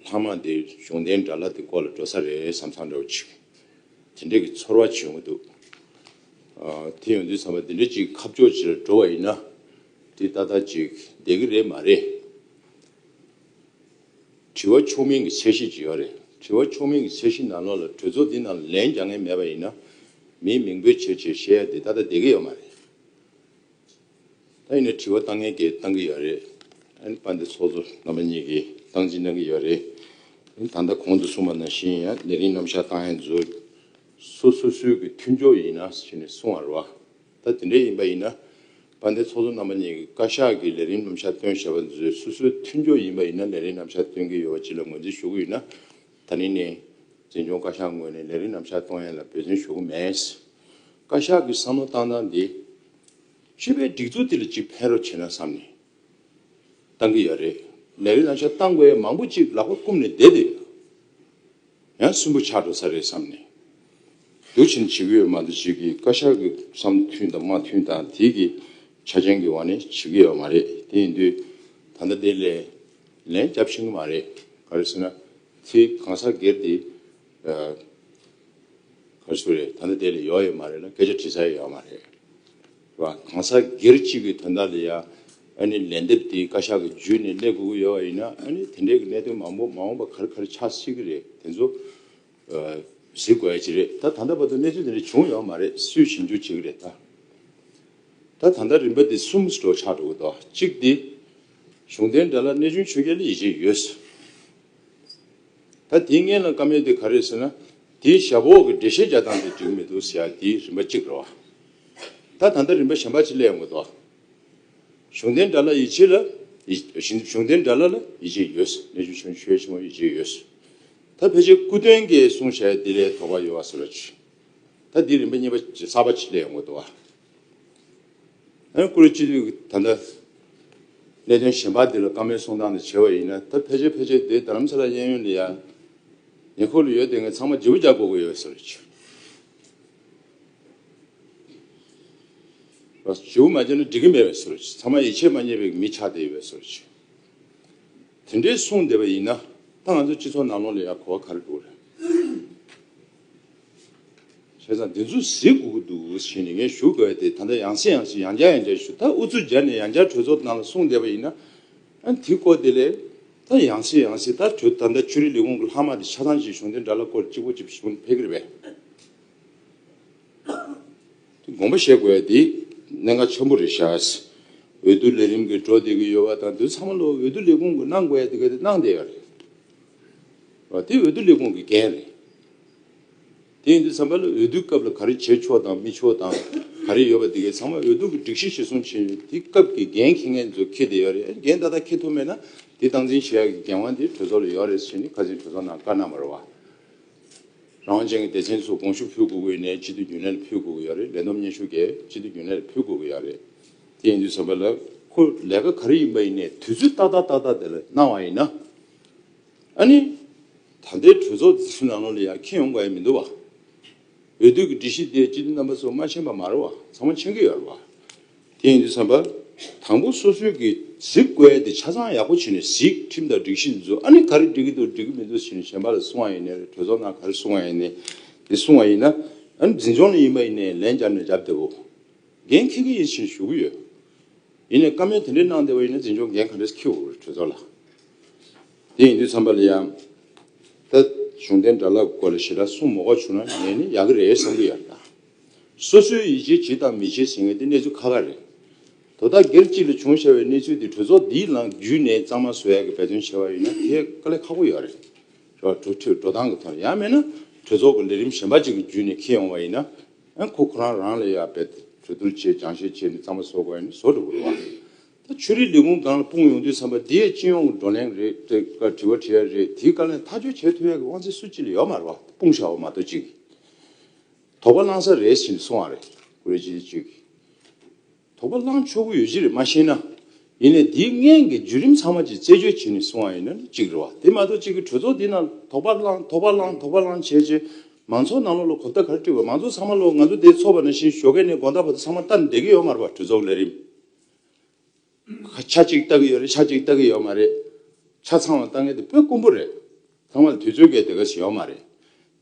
ལྷག་མ་འདི་གཞུང་རྟེན་འདྲ་ལ་དེ་སྐོར་ལ་འགྲོ་ས་རེད་བསམ་བསམ་འདྲ་བོ་བྱེད། དེ་འདྲའི་གི་ཚོར་བ་བྱུང་གི་འདུག། དེ་ཡོང་དུས་བསམ་པ་འདི་འདྲའི་ཅིག་ཁ་ཕྱོགས་ཆེ་རུ་འགྲོ་བ་ཡིན་ན། དེ་ཏག་ཏག་ཅིག་བསྡད་གི་རེད་མ་རེད། དྲི་བ་ཆོག་མིན་གི་ཚད་གཞི་ཅིག་ཡོད་རེད། དྲི་བ་ཆོག་མིན་གི་ཚད་གཞི་ནང་ལོགས་ལ་གྲོས་ཚོགས་འདི་ནང་ལ་ལན་རྒྱག་ངེས་མེད་པ་ཡིན་ན། མིའི་མིང་འབོད་བྱེད་ཆེད་གཞལ་ཡས་དེ་ཏག་ཏག་བསྡད་གི་ཡོད་མ་རེད། ད་ཡིན་ནའི་དྲི་བ་བཏང་ངན་གྱི་བཏང་གི་ཡོད་རེད། ཨ་ནི་པ་འདི་ཚོགས་གཙོ་རྣམ་པ་གཉིས་ཀྱིས་བཏང་སྤྱི་གནང་གི་ཡོད་རེད། ད་ལྟ་གོང་དུ་གསུངས་པ་ནང་བཞིན་ཡང་ལས་རིང་རྣམ་གཞག་བཏང་ཡང་མཛོད། སོ་སོ་སོའི་གི་མཐུན་ཕྱོགས་ཡིན་ན་ཞེས་ནས་གསུངས་བར་བ། ད་དེ་འདྲ་ཡིན་པ་ཡིན་ན། པ་འདི་ཚོགས་གཙོ་རྣམ་པ་གཉིས་ཀྱིས་བཀའ་ཤག་གིས་ལས་རིང་རྣམ་གཞག་བཏོན་ཞེས་པ་མཛོད་སོ་སོའི་མཐུན་ཕྱོགས་ཡིན་པ་ཡིན་ན་ལས་རིང་རྣམ་གཞག་བཏོན་གི་ཡོད་པ་སྤྱི་ལ་ངོས་འཛིན་ཞུ་གི་ཡོད་ན། ད་ནི་ནས་འཛིན་སྐྱོང་བཀའ་ཤག་ངོས་ནས་ལས་རིང་རྣམ་གཞག་གཏོང་ཡན་ལ་འབོད་བརྩོན་ཞུ་གི་མེད། བཀའ་ཤག་གིས་བསམ་བློ་བཏང་སྟངས་འདི། ཤི་བའི་སྒྲིག་འཛུགས་དེ་ལ་ཅིག་ཕན་རོགས་བྱས་ན་བསམ་ནས་བཏང་གི་ཡོད་རེད། ལས་རིགས་ལ་ཆ་བཏང་དགོས་མང་པོ་ཅིག་ལག་པ་བསྐུམ་ནས་བསྡད་དེ་ཡོད། ཡང་སུན་པོ་ཆགས་འགྲོ་ས་རེད་བསམ་ནས་འདུག་ཕྱིན་བྱེད་ཀྱི་ཡོད་མ་འདུག་ཅིག་གིས་བཀའ་ཤག་གི་བསམ་བློ་མཐུན་དང་མ་མཐུན་དང་དེ་གི་ཆ་རྐྱེན་གྱི་འོག་ནས་བྱེད་ཀྱི་ཡོད་མ་རེད་དེ་ཡིན་དུས་ད་ལྟ་དེ་ལས་ལན་རྒྱབ་ཕྱིན་གྱི་མ་རེད་ག་རེ་ཟེར་ན་དེ་གང་ཟག་སྒེར་དེ་ཁ་ཤོ་རེད་ད་ནི་དེ་ལས་ཡོག་ཡོད་མ་རེད་ལ་སྐད་ཆ་དྲི་ས་ཡོད་ཡོག་མ་རེད་བ་གང་ཟག་སྒེར་གཅིག་གི་དོན་དག་ལ་ཡང་ཨ་ནི་ལན་འདེབས་དེ་བཀའ་ཤག་གི་འཇུས་ནས་གླེ་དགོས་ཀྱི་ཡོད་བ་ཡིན་ན་ཨ་ནི་དེ་འདྲའི་གི་གནད་དོན་མང་པོ་མ་འོངས་པ་གར་གར་ཆགས་སྲིད་ཀྱི་རེད་དེ་ཚོ་གཟིགས་དགོས་ཡ་ཅི་རེད་ད་ད་ལྟ་བར་དུ་གནས་ཚུལ་དེ་འདྲ་བྱུང་ཡོག་མ་རེད་སུས་ཞིབ་འཇུག་བྱེད་ཀྱི་རེད་ད། ད་ད་ལྟ་རིམ་པ་དེ་གསུམ་འགྲོ་ཆགས་འགྲོ་གི་འདུག་གཅིག་དེ་གཞུང་དེ་འདྲ་ལ་གནས་ཆུང་ཆོས་རྒྱལ་ལ་ཡིད་ཆེས་ཡོད། ད་དེའི་མངལ་ན་སྐམ་ཡོད་དེ་ག་རེད་ཟེར་ན། དེའི་ཞབས་འོག་གི་འདྲེ་ཤེལ་བརྒྱ་བཏང་སྟེ་འགྲིག་མི་འདུག་ཟེར་ཡ་དེའི་རིན་པ་གཅིག་རེད་བ། ད་ད་ལྟ་རིན་པ་གཞན་པ་ཅིག་གླས་ཡོང་གི་འདུག་བ། གཞུང་རྟེན་དགྲ་ལ་ཡིད་ཆེས་ལ། གཞུང་རྟེན་དགྲ་ལ་ལ་ཡིད་ཆེས་ཡོད། གནས་ཆུང་ཆུང་ཆོས་ཆེན་མོ་ཡིད་ཆེས་ཡོད། ད་ཕལ་ཆེར་སྐུ་སྟོན་གྱི་གསུང་བྱས་དེ་ལས་དོགས་པ་ཡོད་བ་ཟེར་བ་ཅིག། ད་དེའི་རིན་པ་རྙེད་པ་གསར་པ་ཅིག་གླས་ཡོང་གི་འདུག་བ། ཨ་རིའི་ཀུ་རེ་སྤྱི་འཐུས་ཀྱིས་ད་ལྟ་གནད་དོན་གཞན་པ་འདི་ལ་བཀའ་མོལ་གསུང་སྟངས་དེ་བྱས་པ་ཡིན་ན་ད་ཕལ་ཆེར་ཕལ་ཆེར་དེའི་རྡ་རམ་ས་ལ་གཡས་གཡོན་ལ་ཡ་ཉེ་འཁོར་ལ་ཡོད་དེ་ངས་ཚང་མ་འཇིགས་པོ་རྒྱག་དགོས་ཀྱི་ཡོད་ཟེར་བ་ཆོས་པ་བྱེད་པོ་མ་བྱས་ན་འགྲིག་གི་མེད་པས་ཟེར་བ་ཆོས་ཚང་མ་ཡིད་ཆེས་མ་རྙེད་པའི་མི་ཆགས་དེ་ཡོད་པས་ཟེར་བ་ཆོས་དེ་འདྲའི་གསུང་བསྡད་པ་ཡིན་ན་ད་ང་ཚོའི་སྤྱི་ཚོགས་ནང་ལོགས་ལ་ཡ་གོ་བ་ག་རེ་འདུག་རེད། བྱས་ཙང་དེ་ཚོ་གཟིགས་དགོས་ཀྱི་འདུག་ཞེས་ནས་ངས་ཞུ་དགོས་དེ་ད་ལྟ་ཡང་སྲིད་ཡང་སྲིད་ཡང་བསྐྱར་ཡང་བསྐྱར་ཞུ་ད་ཨུ་ཚུགས་སྦྱར་ནས་ཡང་བསྐྱར་གྲོས་ཚོགས་ནང་ལ་གསུང་བསྡད་པ་ཡིན་ན། དེ་སྐོར་དེ་ལས། ད་ཡང་སྲིད་ཡང་སྲིད་ད་གྲོས་ད་ལྟ་ཆོས་རིག་ལས་ཁུངས་ཀྱི་ལྷག་མ་དེ་ཆ་ཚང་ཞིག་གཞུང་དེ་འདྲ་ལ་སྐོར་གཅིག་པོ་གཅིག་གཞུང་ཕལ་གྱིར་བས། དེ་དགོངས་པ་བཞེས་དགོས་དེ་གནད་འགག་ཆེན་པོ་རེད་ཤག། འོས་བསྡུ་ལས་རིམ་གྱི་འགྲོ་བསྡད་ཀྱི་ཡོད་པ་དང་དེ་ཚང་མ་ལོ་འོས་བསྡུ་ལས་ཁུངས་ཀྱི་གནང་དགོས་ཡ་དེ་ག་དེ་གནང་བསྡད་ཡོད་རེད། དེ་འོས་བསྡུ་ལས་ཁུངས་ཀྱི་འགན་རེད། དེ་ཡིན་དུས་ཚང་མས་ལ་འོས་བསྡུའི་སྐབས་ལ་ག་རེ་བྱེད་ཆོག་དང་མི་ཆོག་དང་ག་རེ་ཡོད་པ་དེ་གས་ཚང་མ་འོས་བསྡུ་གི་སྒྲིག་གཞི་བྱེད་སོང་བྱས་ཡོད་དེ་སྐབས་ཀྱི་འགན་འཁེ་མཁན་ཚོས་འཁེ་བསྡད་ཡོད་རེད་འགན་ད་ལྟ་འཁེ་ཐུབ་མེད་ན་དེ་སྟངས་འཛིན་བྱེད་ཡག་གི་འགན་དབང་དེ་གྲོས་ཚོགས་ལ་ཡོད་རེད་ཟེར་ནས་ཁ་ཟིན་གྲོས་ཚོགས་ནང་བཀའ་གནང་བར་བ་རང་དབང་ཅན་གྱི་སྡེ་ཚན་ཚོ་དགོངས་ཞུ་ཕུལ་དགོས་གི་ཡོད་ནས་སྤྱི་འཐུས་རྒྱུན་ལས་ལ་ཕུལ་དགོས་གི་ཡོད་རེད་ལས་བསྡོམས་སྙན་ཞུ་གས་སྤྱི་འཐུས་རྒྱུན་ལས་ལ་ཕུལ་དགོས་གི་ཡོད་རེད་དེ་ཡིན་དུས་ཚང་མས་ལ་ཁོ་ལས་ཀ་ག་རེ་ཡིན་པ་ཡིན་ནས་དུས་ཚོད་ཏག་ཏག་ཏག་ཏག་དེ་ལ་གནང་བ་ཡིན་ན། ཨ་ནི། ད་ལྟའི་གྲོས་ཚོགས་འཛིན་སྐྱོང་ལམ་ལུགས་ལ་ཡང་ཁྱད་ཡོང་དགོས་ཡ་མི་འདུག་བ། འོས་བསྡུ་གི་སྒྲིག་གཞི་དེ་སྤྱི་འཐུས་རྣམ་པ་ཚོ་མ་མཆན་པ་མ་རུ་བ་ཚང་མ་མཆན་གི་ཡོད་རུ་བ། དེ་ཡིན་དུས་བསམ་པ། དང་པོ་སོ་སོའི་གི་གཟིགས་བཀོལ་དེ་ཆ་ཚང་ཡག་པོ་བྱེད་ནས་གཟིགས་ཁྲིམས་དང་སྒྲིག་གཞི་འཛུགས་ཨ་ནི་ག་རེ་སྒྲིག་གི་འདུག་སྒྲིག་གི་མི་འདུག་བྱེད་ནས་གཞན་པ་ལ་གསུང་བ་ཡིན་ནས་གྲོས་ཚོགས་ནང་ག་རེ་གསུང་བ་ཡིན་ནས་དེ་གསུང་བ་ཡིན་ན་ཨ་ནི་འཛིན་སྐྱོང་ལ་ཡིན་པ་ཡིན་ནས་ལན་བརྒྱབ་ནས་བརྒྱབ་བསྡད་བོ། འགན་འཁྱེར་གི་ཡིན་བྱེད་ནས་ཞུ་གི་ཡོད། ཡིན་ནས་བཀའ་མོལ་དེ་འདྲའི་གནང་བདེ་བ་ཡིན་ན་འཛིན་སྐྱོང་འགན་ག་རེས་འཁྱེར་འོས་གྲོས་ཚོགས་ལ། དེ་ཡིན་དུས་ཚང་པ་ལ་ཡང། ད་གཞུང་རྟེན་དགྲ་ལག་དགོས་ལ་ཞེ་དྲག་གསུངས་མ་གོ་བྱུང་ན་ངས་ནི་ཡག་གི་རེད་བསམ་གི་ཡོད། སོ་སོའི་ཡིད་ཆེས་བྱེད་དང་མི་བྱེད་ཟེར་མཁན་དེ་གནས་ཚུལ་ཁ་ཁ་རེད། དོ་བདག་སྒེར་གཅིག་ལ་བྱུང་བྱ་བའི་གནས་ཚུལ་དེ་གྲོས་ཚོགས་འདིའི་ནང་བརྒྱུད་ནས་གཙང་མ་བཟོ་ཡག་གི་འབད་བརྩོན་བྱས་པ་ཡིན་ན་དེ་དཀའ་ལས་ཁག་པོ་ཡོད་རེད། འགྲོ་སྟངས་ཀྱི་ཐོག་ནས་ཡང་མེད་ན་གྲོས་ཚོགས་ཀྱི་ལས་རིམ་གཞན་པ་ཅིག་གི་བརྒྱུད་ནས་འཁེལ་ཡོང་བ་ཡིན་ན། ཨ་ཁོ་ཁོ་རང་རང་ལ་ཡག་པའི་གྲོས་བསྡུར་བྱས་སྦྱང་བཤད་བྱས་ནས་གཙང་མ་བཟོ་དགོས་ཡ་ནི་བཟོ་འགྲོ་དགོས་རེད་བ། ད་ཆོས་རིག་ལས་ཁུངས་སྒང་ལ་སྤུངས་ཡོང་དུས་བསམ་པ་འདི་ཡ་སྤྱི་ཡོངས་ཀྱི་བགྲོ་གླེང་རེད་དེ་ཀ་དྲི་བ་དྲི་ཡ་རེད་དེའི་བཀའ་ལན་ཐག་གཅོད་བྱས་ཐུབ་ཡ་གི་དབང་ཚད་སུ་ཅི་ལ་ཡོད་མ་རེད་བ་སྤུངས་བཞག་བ་མ་གཏོགས་ཅིག་གིས་དོགས་པ་བསླང་ས་རེད་བཞིན་སོང་བ་རེད་ཀུ་རེ་བྱེད་ཅིག་གིས། དོགས་པ་བསླང་ཆོག་གི་ཡོད་གཞི་རེད་མ་ཤེས་ན། ཡིན་ནའི་འདིའི་སྔན་གྱི་བརྒྱུད་རིམ་ཚང་མ་ཅིག་རྩད་གཅོད་བྱེད་ནས་སོང་བ་ཡིན་ན་གཅིག་རེད་བ། དེ་མ་གཏོགས་གཅིག་གི་གྲོས་ཚོགས་འདི་ནང་དོགས་པ་བསླང་དོགས་པ་བསླང་དོགས་པ་བསླང་བྱས་རྗེས། མང་ཚོགས་ནང་ལོགས་ལ་གོ་བརྡ་ག་རེ་སྤྲོད་དགོས་མང་ཚོགས་ཚང་མ་ལོགས་ང་ཚོ་འདས་ཚོགས་པ་ནང་བཞིན་ཞོགས་ཁའི་ནས་དགོངས་དག་བོ་དེ་ཚང་མ་བལྟ་ནས་བསྡད་ཀྱི་ཡོད་མ་རེད་བ་གྲོས་ཚོགས་ལས་རིམ་ཆ་གཅིག་བལྟ་གི་ཡོད་རེད་ཆ་གཅིག་བལྟ་གི་ཡོད་མ་རེད། ཆ་ཚང་བ་བལྟ་མཁན་དེ་དཔོན་དཀོན་པོ་རེད། ཚང་མ་ལ་དུས་ཚོད་འགལ་དེ་ག་ཞིག་ཡོད་མ་རེད།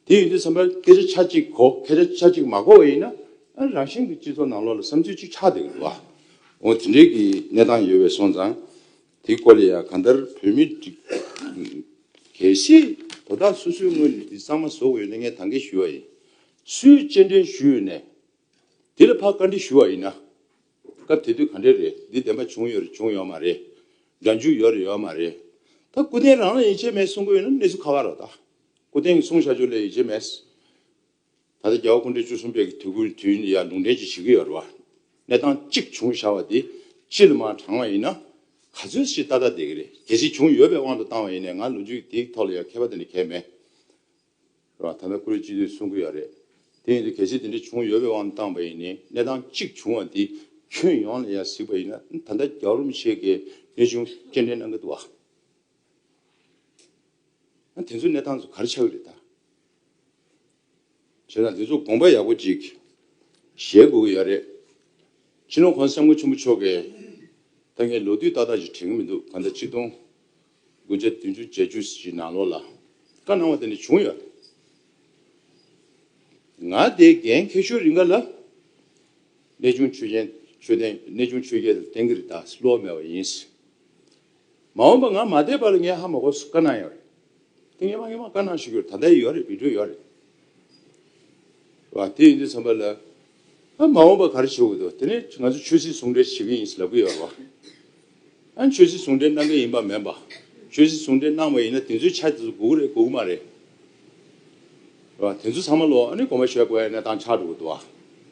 དེ་ཡིན་དུས་བསམ་པའི་སྐད་ཆ་ཆ་གཅིག་གོ་སྐད་ཆ་ཆ་གཅིག་མ་གོ་བ་ཡིན་ན་རང་ཞིང་གི་སྤྱི་ཚོགས་ནང་ལོགས་ལ་བསམ་ཚུལ་གཅིག་ཆགས་འདུག་ལ། འོ་དེ་འདྲའི་གི་གནས་སྟངས་ཡོད་པས་སོང་ཙང་དེ་སྐོར་ལ་ཡང་གང་ལྟར་བོད་མི་གལ་སྲིད་དོ་བདག་སོ་སོའི་ངོས་ནས་དེ་གཙང་མ་བཟོ་དགོས་ཡོད་ན་ངས་དང་འགལ་ཞུ་བ་ཡིན། སུས་གཅེས་འབྲེལ་ཞུས་ཡོད་ནས་དེ་ལ་ཕར་བཀའ་འདྲི་ཞུ་བ་ཡིན་ན། སྐབས་དེ་དུས་ག་འདྲས་རེད་འདི་བདེན་པ་བྱུང་ཡོད་རེད་བྱུང་ཡོད་མ་རེད། འདྲ་འཇུག་ཡོད་རེད་ཡོད་མ་རེད། ད་སྐུ་རྟེན་རང་ལ་ཡིན་ཆད་མེད་གསུང་དགོས་ཡོད་ན་གནས་ཚུལ་ཁ་ཁ་རོགས་ད། སྐུ་རྟེན་གྱི་གསུང་བཤད་རྒྱུ་ལས་ཡིད་ཆེས་མེད། ད་ལྟ་རྒྱལ་བ་སྐུ་འབྲེལ་བཅུ་གསུམ་པའི་དུས་ཀུན་དུས་འདི་ཡང་ལུང་འདྲེན་གྱིས་བྱེད་ཀྱི་ཡོད་རེད་བ། གནས་སྟངས་གཅིག་བྱུང་བྱ་བ་འདི་སྤྱི་ལ་མ་དྲང་བ་ཡིན་ན། ག་ཚོད་ཞིག་ཏག་ཏག་བསྡད་ཀྱི་རེད། དེ་ཞིག་བྱུང་ཡོད་པའི་དབང་དུ་བཏང་བ་ཡིན་ནས་ང་ལོ་རྒྱུས་དེའི་ཐོག་ལ་ཡང་མཁས་པ་དེ་འདྲ་གལ་མེད། རེད་བ། ད་མེ་ཁུ་རེ་གཅིག་དུས་གསུང་གི་ཡོད་རེད། དེ་ཡིན་དུས་གལ་སྲིད་དེ་འདྲ་བྱུང་ཡོད་པའི་དབང་དུ་བཏང་བ་ཡིན་ནས་གནས་སྟངས་གཅིག་བྱུང་བ་འདི་ཁྱོན་ཡོངས་ལ་ཡང་གཟིགས་པ་ཡིན་ན་ད་ལྟ་རྒྱལ་བ་རིན་པོ་ཆེ་གིས་གནས་ཆུང་སྐྱེལ་འདྲེན་གནང་གི་འདུག་བ། ཨ་དེ་ཚོ་གནས་སྟངས་ཚོ་གར་ཆགས་རེད་ད། བྱས་ཙང་དེ་ཚོ་དགོངས་པ་ཡག་པོ་ཅིག་བཞེས་དགོས་ཀྱི་ཡག་རེད། ཕྱི་ལོ་གོང་ས་སྲས་མགོན་ཆེན་པོ་མཆོག་གིས་ད་ངས་ལོ་དུས་ཏག་ཏག་ཅིག་དྲན་གྱི་མི་འདུག་གང་ལྟར་གཅིག་སྟོང་དགུ་བརྒྱ་བདུན་ཅུ་བརྒྱད་ཅུ་ཞིག་ནང་ལོགས་ལ་བཀའ་གནང་བ་དེ་ནས་བྱུང་ཡོད་རེད། ང་དེའི་འགན་ཁེ་ཤོར་རིང་ག་ལ་གནས་ཆུང་ཆོས་རྒྱལ་གནས་ཆུང་ཆོས་རྒྱལ་དེ་གཏན་འཁེལ་རེད་ད་བསླུ་བ་མེད་པ་ཡིན། མ་འོངས་པ་ང་མ་བསྡད་པར་ངའི་ཧ་མ་གོ་སུ་དཀར་ནག་ཡོད་རེད། དེ་ངའི་མ་ངའི་མ་དཀར་ནག་ཞིག་ཡོད་རེད་ད་ལྟ་ཡིན་ཡོད་རེད་བི་དྲོད་ཡོད་རེད། བ་དེ་ཡིན་དུས་ཚང་པ་ལ་ཨ་མ་འོངས་པ་ག་རེ་བྱེད་དགོས་འདུག་དེ་ནས་ང་ཚོ་ཆོས་སྲིད་ཟུང་འབྲེལ་བྱེད་ཀྱི་ཡིན་ཞེས་ལབ་ཀྱི་ཡོད་རེད་བ། ཨ་ཆོས་སྲིད་ཟུང་འབྲེལ་གནང་གི་ཡིན་པ་མེད་པ། ཆོས་སྲིད་ཟུང་འབྲེལ་གནང་བ་ཡིན་ན་དེ་ཚོའི་ཆ་དེ་ཚོ་འགུག་རེད་འགུག་གི་མ་རེད། བ་དེ་ཚོ་ཚང་མ་ལོ་ཨ་ནི་གོང་མ་ཞོལ་དགོས་ཡ་གནས་སྟངས་ཆགས་འགྲོ་གི་འདུག་བ།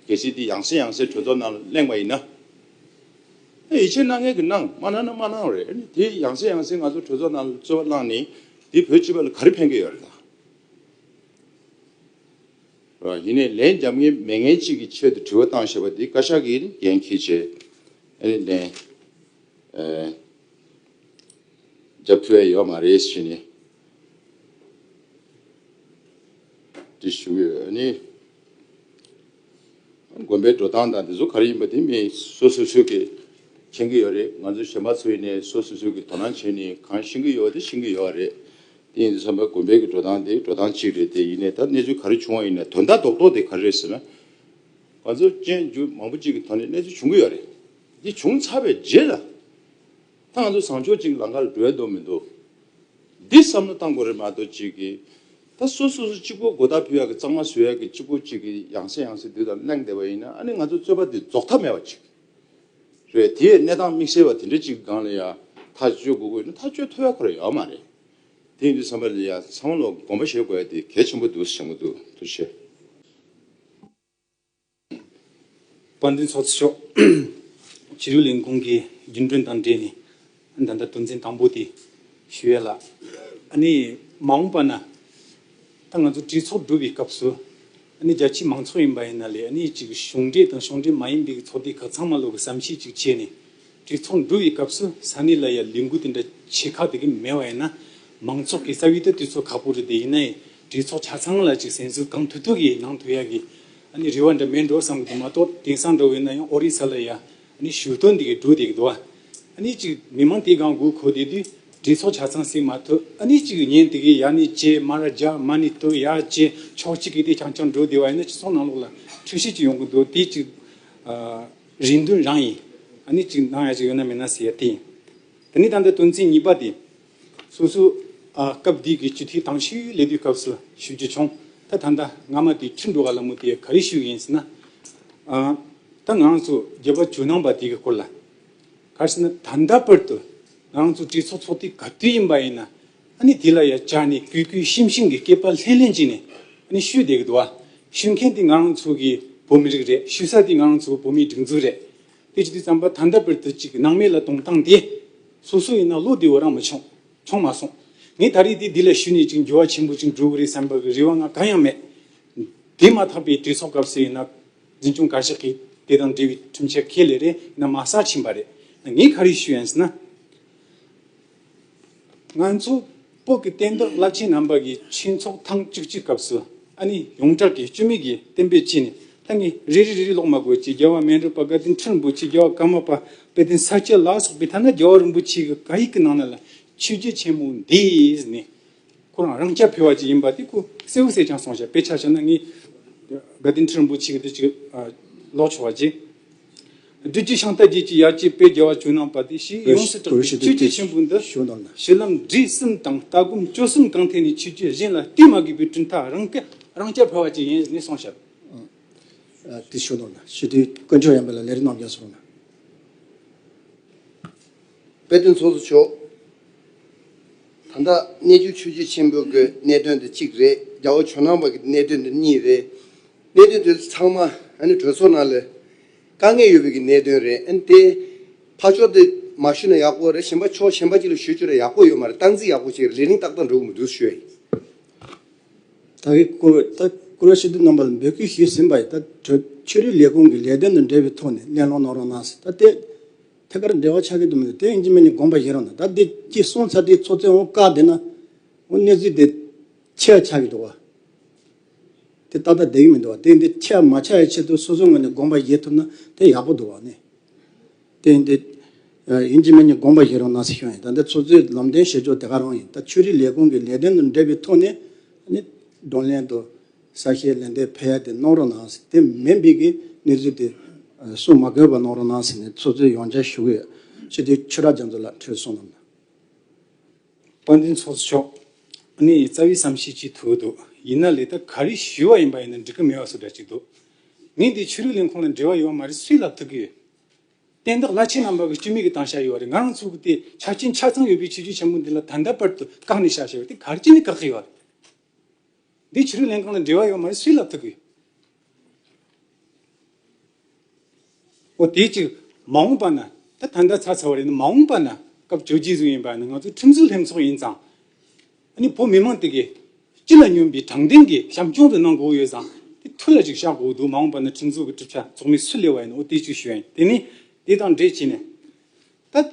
གལ་སྲིད་དེ་ཡང་སེ་ཡང་སེ་གྲོས་ཚོགས་ནང་གླེང་བ་ཡིན་ན། ཡིད་ཆེས་སྣ་ངན་གྱི་སྣང་མ་སྣང་ན་མ་སྣང་རེད་ཨེ་དེ་ཡང་སྲིད་ཡང་སྲིད་ང་ཚོ་གྲོས་ཚོགས་ནང་ལ་རྩོད་པ་གནང་ནས་དེ་བོད་སྤྱི་པ་ལ་ག་རེ་ཕན་གྱི་ཡོད་རེད་ད། ཡིན་ནས་ལན་རྒྱབ་ངེས་མེད་ངན་གཅིག་གི་ཆེད་དུ་དྲི་བ་བཏང་ཞེས་པ་དེ་བཀའ་ཤག་གིས་འགན་ཁྱེད་ཆེད་ཨེ་ལན་རྒྱབ་ཐུ་ཨེ་ཡོད་མ་རེད་ཞེས་ནས་དྲི་ཞུ་གི་ཡོད་ཨེ། དགོན་པའི་འགྲོ་སྟངས་དང་དེ་ཚོ་ག་རེ་ཡིན་པ་དེ་མི་སོ་སོ་སོས་ཀྱིས་མཁྱེན་གྱི་ཡོད་རེད་ང་ཚོ་གཞན་པ་ཚོས་ནི་སོ་སོ་སོས་ཀྱིས་དོ་སྣང་བྱས་ནས་གང་ཤེས་ཀྱི་ཡོད་པ་དེ་ཤེས་ཀྱི་ཡོད་རེད། དེ་ཡིན་དུས་བསམ་པ་དགོན་པའི་གི་འགྲོ་སྟངས་དེ་འགྲོ་སྟངས་གཅིག་རེད་དེ་ཡིན་ནས་ད་གནས་ཚུལ་ག་རེ་བྱུང་བ་ཡིན་ནས་དོན་དག་རྡོག་རྡོག་དེ་ག་རེ་རེད་ཟེར་ན། ང་ཚོ་གཅེན་གཅུང་མང་པོ་གཅིག་གི་ཐོག་ནས་གནས་ཚུལ་བྱུང་གི་ཡོད་རེད། དེ་བྱུང་ཚར་བའི་རྗེས་ལ། ད་ང་ཚོ་བཟང་ཕྱོགས་གཅིག་ལང་ཀ་ལ་འགྲོ་ཡ་འདུག་མི་འདུག་འདི་བསམ་བློ་བཏང་དགོས་རེད་མ་གཏོགས་གཅིག་གིས། ད་སོ་སོ་སོ་གཅིག་པོ་སྒོ་དག་ཕུལ་ཡག་གི་གཙང་མ་བཟོས་ཡག་གི་གཅིག་པོ་གཅིག་གི་ཡང་སེ་ཡང་སེ་དུས་དང་གླེང་བསྡད་པ་ཡིན་ན་ཨ་ནི་ང་ཚོ་རྩོད་པ་འདི་རྫོགས་ཐབས་མེད་པ་ཅིག་རེད་དེ་ཡས་གནས་སྟངས་དམིགས་བསལ་བ་དེ་འདྲ་གཅིག་གི་སྒང་ལ་ཡ་ཐག་གཅོད་དགོས་དགོས་ཡིན་ན་ཐག་གཅོད་ཐུབ་ཡག་ཁོ་ར་ཡག་མ་རེད་དེ་ཡིན་དུས་བསམ་པ་ལ་ཡ་ཚང་མ་ལ་དགོངས་པ་བཞེས་དགོས་ཡག་དེ་གལ་ཆེན་པོ་འདུག་སེམས་གོ་འདུག་ཐུགས་ཆེ།
དཔལ་ལྡན་ཚོགས་གཙོ་མཆོག་གཞིས་ལུས་ལས་ཁུངས་ཀྱི་རྒྱུན་གྲོན་དང་འབྲེལ་ནས་ད་ལྟ་དོན་ཚན་དང་པོ་དེ་ཞུ་ཡས་ལགས། ཨ་ནི་མ་འོངས་པ་ན་ད་ང་ཚོ་གྲོས་ཚོགས་གྲུབ་པའི་སྐབས་སུ་ཨ་ནི་རྒྱ་ཆེའི་མང་ཚོགས་ཡིན་པ་ཡིན་ན་ལས་ཨ་ནི་གཞུང་འབྲེལ་དང་གཞུང་འབྲེལ་མ་ཡིན་པའི་ཚོགས་སྡེ་ཁག་ཚང་མ་ལོག་གི་བསམ་ཤེས་ཅིག་བྱས་ནས་བྲེལ་ཚོགས་འགྲོ་བའི་སྐབས་སུ་ས་གནས་ལ་ཡང་ལས་འགུལ་དེ་འདྲ་ཆེ་ཁག་དེ་གི་མེད་པ་ཡིན་ན། མང་ཚོགས་ཀྱི་རྩ་བའི་དུས་ཚོད་ཁག་པོ་རེ་དེ་ཡིན་ན་ཡང་བྲེལ་ཚོགས་ཆ་ཚང་ལ་ཅིག་ཟན་ཟོས་གང་ཐུབ་ཐུབ་ཀྱིས་ནང་དུ་ཡག་གི། ཨཱ་ནི་རེ་བ་འདྲ་མེད་འགྲོ་བསམ་གི་མ་གཏོགས་དེང་སང་འགྲོ་བས་ན་ཡང་ཨོ་རི་ས་ལ་ཡང་ཨཱ་ནི་ཞུ་དོན་དེ་གི་འགྲོ་དེ་གི་འདུག་ཨཱ་ནི་ཅིག་མི་མང་དེ་གང་དགོས་མཁོ་དེ་དུས་བྲེལ་ཚོགས་ཆ་ཚང་སེལ་མ་ཐུབ་ཨཱ་ནི་ཅིག་ཉིན་དེ་གི་ཡ་ནི་བཅས་མ་ར་རྒྱག་མ་ནི་དུ་ཡ་བཅས་ཕྱོགས་གཅིག་གི་དེ་ཆང་ཆང་འགྲོ་དེ་བ་ཡིན་ན་ཅིག་ཚོགས་ནང་ལོགས་ལ་འཕྲུལ་ཤེས་ཅིག་ཡོང་གི་འདུག་དེ་ཅིག་ཨཱ། རེ་འདུན་རང་ཡིན། ཨ་ནི་གཅིག་འདང་ཡ་གཅིག་ཡོད་ན་མེད་ན་ཟེར་ཡ་དེ་ཡིན། དེ་ནི་ད་ལྟའི་དོན་ཚན་གཉིས་པ་དེ། སོ་སོའི་སྐབས་དེ་གའི་སྤྱི་འཐུས་དྭང་ཤིའི་ལས་དུས་སྐབས་སུ་ཞུ་རྒྱུ་བྱུང། ད་ད་ལྟ་སྔ་མ་དེ་ཁྲི་འགྲོ་ག་ལ་མོ་དེ་ག་རེ་ཞུས་ཡིན་ཟེར་ན། ད་ང་རང་ཚོ་རྒྱལ་བ་ཇོ་ནང་པ་དེ་གའི་སྐོར་ལ། ག་རེ་ཟེར་ན་ད་ལྟ་བར་དུ་ང་རང་ཚོ་གྲོས་ཚོགས་ཚོགས་དུས་ག་དུས་ཡིན་པ་ཡིན་ན་ཨ་ནི་དེ་ལ་ཡ་བྱ་ནི་གུས་གུས་ཤིམ་ཤིམ་གྱི་སྐེད་པ་ལྷེང་ལྷེང་བྱས་ནས་ཨ་ནི་ཤུས་བསྡད་ཀྱི་འདུག་ཨ་ཤུས་མཁན་དེ་ང་རང་ཚོ་གི་བོད་མི་རིགས་རེད་ཤུས་ས་དེ་ང་རང་ཚོ་བོད་མིའི་སྒྲིག་འཛུགས་རེད་དེ་ཅི་དུས་རྩམ་པ་ཐ་མདའ་བིར་ཐུ་ཅིག་ནང་མི་ལ་གཏོང་སྟངས་དེ་སོ་སོ་ཡིན་ན་བློ་བདེ་བོ་རང་མི་ཆོངས་ཆོངས་མ་སོང་ངས་ད་རེས་དེ་དེ་ལ་ཞུས་ནས་ཅིག་འགྱུར་བ་ཆེན་པོ་ཅིག་འགྲོ་གི་རེད་བསམ་པ་གི་རེ་བ་ང་གང་ཡང་མེད། དེ་མ་ཐག་པའི་གྲོས་ཚོགས་སྐབས་སུ་ཡིན་ན་འཛིན་སྐྱོང་བཀའ་ཤག་གིས་དེ་དང་འབྲེལ་བའི་ཁྲིམས་འཆར་ཁས་ལེན་རེ་ཡིན་ན་མ་ས་ཕྱིན་པ་རེད་ངས་ག་རེ་ཞུས་ཡིན་ཟེར་ན། ང་ཚོ་བོད་ཀྱི་བསྟན་བདག་བླ་ཆེན་རྣམ་པ་གྱི་ཆོས་ཚོགས་ཐེངས་བཅུ་གཅིག་སྐབས་སུ་ཨ་ནི་ཡོངས་གྲགས་ཀྱི་བཅོས་མིན་གྱི་བསྟན་པའི་ཆེད་ནས་ཐ་སྙད་རེ་རེ་རེ་རེ་ཀློག་མ་དགོས་ཅེས་རྒྱལ་བ་སྨན་རི་པཀྵ་བསྟན་འཕྲིན་རིན་པོ་ཆེ་རྒྱལ་བ་ཀརྨ་པ་དཔལ་ལྡན་ས་སྐྱ་ལགས་སོགས་པས་ཐ་ན་རྒྱལ་བ་རིན་པོ་ཆེའི་བཀའ་ཡིག་གི་ནང་ན་ལ་ཆོས་རྒྱལ་ཆེན་མོ་འདིས་ནི། ཁོ་རང་རང་སྐྱ་ཕེ་བ་ཅིག་ཡིན་པ་དེ་ཁོ་སེའུ་བསད་ཀྱང་སོང་ཞབས་པད་ཆག་ཆག་ན་ངས་དགའ་ལྡན་ཁྲི་རིན་པོ་ཆེ་གི་འདི་ཅིག་ལོག་ཆོག་བ་རྗེ་བདུད་ཀྱི་ཤངས་རྟ་རྒྱས་ཀྱི་ཡར་སྐྱེས་པད་རྒྱལ་བ་བྱོན་གནང་བ་དེ་ཞིག་ཡོངས་སུ་གྲགས་པའི་ཆོས་རྗེ་ཆེན་པོ་འདི་ཞི་ལམ་འབྲས་གསུམ་དང་ལྟ་སྒོམ་སྤྱོད་གསུམ་གང་ཐད་ནས་ཆོས་བརྒྱུད་གཞན་ལ་བསྟུན་མ་དགོས་པའི་གྲུབ་མཐའ་རང་སྐྱ་རང་སྐྱ་ཕེ་བ་ཅིག་ཡིན་ནས་སོང་ཞབས། དེ་ཞུ་གནང་
ན་ཞི་དུལ་དཀོན་མཆོག་ཡངས་པ་ལ་ལས་རིགས་རྣམས་ཀྱང་གསུངས་ན།
དཔལ་དུས་མཚུངས་སུ་ཆོག། ད་ལྟ་གནས་ཆུ་ཆུ་བྱི་ཆེན་པོའི་སྒོའི་གནད་དོན་དུ་གཅིག་རེད་རྒྱ་བོད་ཇོ་ནང་བར་གྱི་གནད་དོན་དུ་གཉིས་རེད། གནད་དོན་དེ་ཚང་མ་གྲོས་ཚོགས་ནང་ལ་དཀའ་ངལ་ཡོད་པའི་གི་གནད་དོན་རེད་ཨན་དེ་ཕར་ཕྱོགས་དེ་མ་ཞུས་ན་ཡག་པོ་རེད་གཞན་པ་ཕྱོགས་གཞན་པ་གཅིག་ལ་ཞུས་ཆོག་རེད་ཡག་པོ་ཡོད་མ་རེད་སྟངས་འཛིན་ཡག་པོ་བྱེད་རེད་རིང་ཏག་ཏག་འགྲོ་གི་མི་འདུག་ཞུ་ཡ་ཡིན། ད་
གིས་བཀུར་འོས་ལྟར་བཀུར་འོས་ཕྱི་དྲིལ་རྣམ་པ་ལ་འབོད་སྐུལ་ཞུས་ཟིན་པ་ཡིན་ད་གྲོས་ཆོས་རིག་ལས་ཁུངས་ཀྱི་ལས་དོན་དང་འབྲེལ་བའི་ཐོག་ནས་གླེང་སློང་གནང་རོགས་གནང་ཟེར་ད་ལྟའི་ཐད་ཀར་འབྲེལ་བ་ཆགས་ཀྱི་འདུག་མོད་དེ་ཡིན་གྱི་མིན་ནི་དགོངས་པ་བཞེས་རོགས་གནང་ད་འདི་ཅིག་གསུངས་ཚར་དུས་ཚོད་ཚོད་འོང་དཀའ་བསྡད་ན། འོ་གནས་ཚུལ་དེ་ཆེ་བ་ཆགས་ཀྱི་འདུག་བ། དེ་ཏག་ཏག་བསྡད་ཀྱི་མི་འདུག་བ་དེ་ཡིན་དེ་ཆེ་བ་མ་ཆགས་ཡའི་ཆེད་དུ་སོ་སོའི་ངོས་ནས་དགོངས་པ་བཞེས་ཐུབ་ན་དེ་ཡག་པོ་འདུག་བ། གནས་དེ་ཡིན་དེ། ཡིན་གྱི་མིན་ནི་དགོངས་པ་བཞེས་རོགས་གནང་ཟེར་ཞོར་ཡིན་ད་འདི་ཚོ་ཚོའི་ལམ་སྟོན་བྱེད་ཕྱོགས་དེ་ག་རང་ཡིན་ད་ཆོས་རིག་ལས་ཁུངས་ཀྱི་ལས་དོན་དང་འབྲེལ་བའི་ཐོག་ནས། ནི། བགྲོ་གླེང་དང། གསར་བཤད་ལན་འདེབས་ཕལ་དེ་གནང་རོགས་གནང་ཟེར་དེ་མེད་འབིག་གི་གནས་ཚུལ་དེ་གསུངས་མ་དགོས་པ་གནང་རོགས་གནང་ཟེར་ནས་ཚོགས་གཙོས་ཡོང་འཇགས་ཞུ་གི་ཡོད་ཕྱི་དྲོའི་ཆོས་གྲགས་རྒྱ་མཚོ་ལགས་འཁྲོད་སོང་ལ་མ། དཔལ་
ལྡན་ཚོགས་གཙོ་མཆོག་ནི་རྩ་བའི་བསམ་ཤེས་ཅིག་ཐུག་འདུག་ཡིན་ན་ལས་ཐབས་ག་རེ་ཞུས་བ་ཡིན་པ་ཡིན་ན་འགྲིག་གི་མེད་བ་སོགས་འདྲ་ཅིག་འདུག་མི་འདི་ཆོས་རིག་ལས་ཁུངས་ལ་འབྲེལ་བ་ཡོད་བ་མ་རེད་སུས་ལབ་ཐུབ་ཀི་ཡོད། བསྟན་བདག་བླ་ཆེན་རྣམ་པ་གི་སྤྱི་མིག་གི་སྟངས་ཤར་ཡོད་བ་རེད་ང་རང་ཚོ་གི་དེ་ཆ་རྐྱེན་ཆ་ཚང་ཡོད་པའི་ཆོས་རྒྱུད་ཆེན་པོ་འདི་ལ་ད་ལྟ་བར་དུ་བཀག་ནས་བཞག་བཞག་བ་དེ་ག་རེ་ཅི་ནས་བཀག་གི་ཡོད། འདི་ཕྱི་རོལ་ལན་གང་དང་འབྲེལ་བ་ཡོད་མ་རེད་སུས་ལབ་ཐུབ་ཀི། འོ་དེའི་ཕྱིར་མ་འོངས་པ་ན་ད་ད་འདྲ་ཚ་ཚ་བ་རེད་ན་མ་འོངས་པ་ན་སྐབས་བཅོ་བརྒྱད་ཟུག་ཡིན་པ་ན་ང་ཚོ་ཁྲིམས་བཟོ་ལྷན་ཚོགས་ཡིན་ཙང་ཨ་ནི་བོད་མི་མང་དེ་གི་སྤྱི་ལ་སྙོམས་པའི་དྲང་བདེན་གི་བྱམས་སྐྱོང་དུ་གནང་དགོས་ཡོད་ཙང་དེ་ཐུ་ལ་ཅིག་བཞག་དགོས་འདུག་མ་འོངས་པ་ན་ཁྲིམས་བཟོ་གི་གྲུབ་ཆ་ཚོགས་མི་སུ་ལས་བ་ཡིན་ཨོ་དེའི་ཕྱིར་ཞུ་ཡ་ཡིན་དེ་ནི་དེ་དང་འབྲེལ་བྱས་ནས་ད།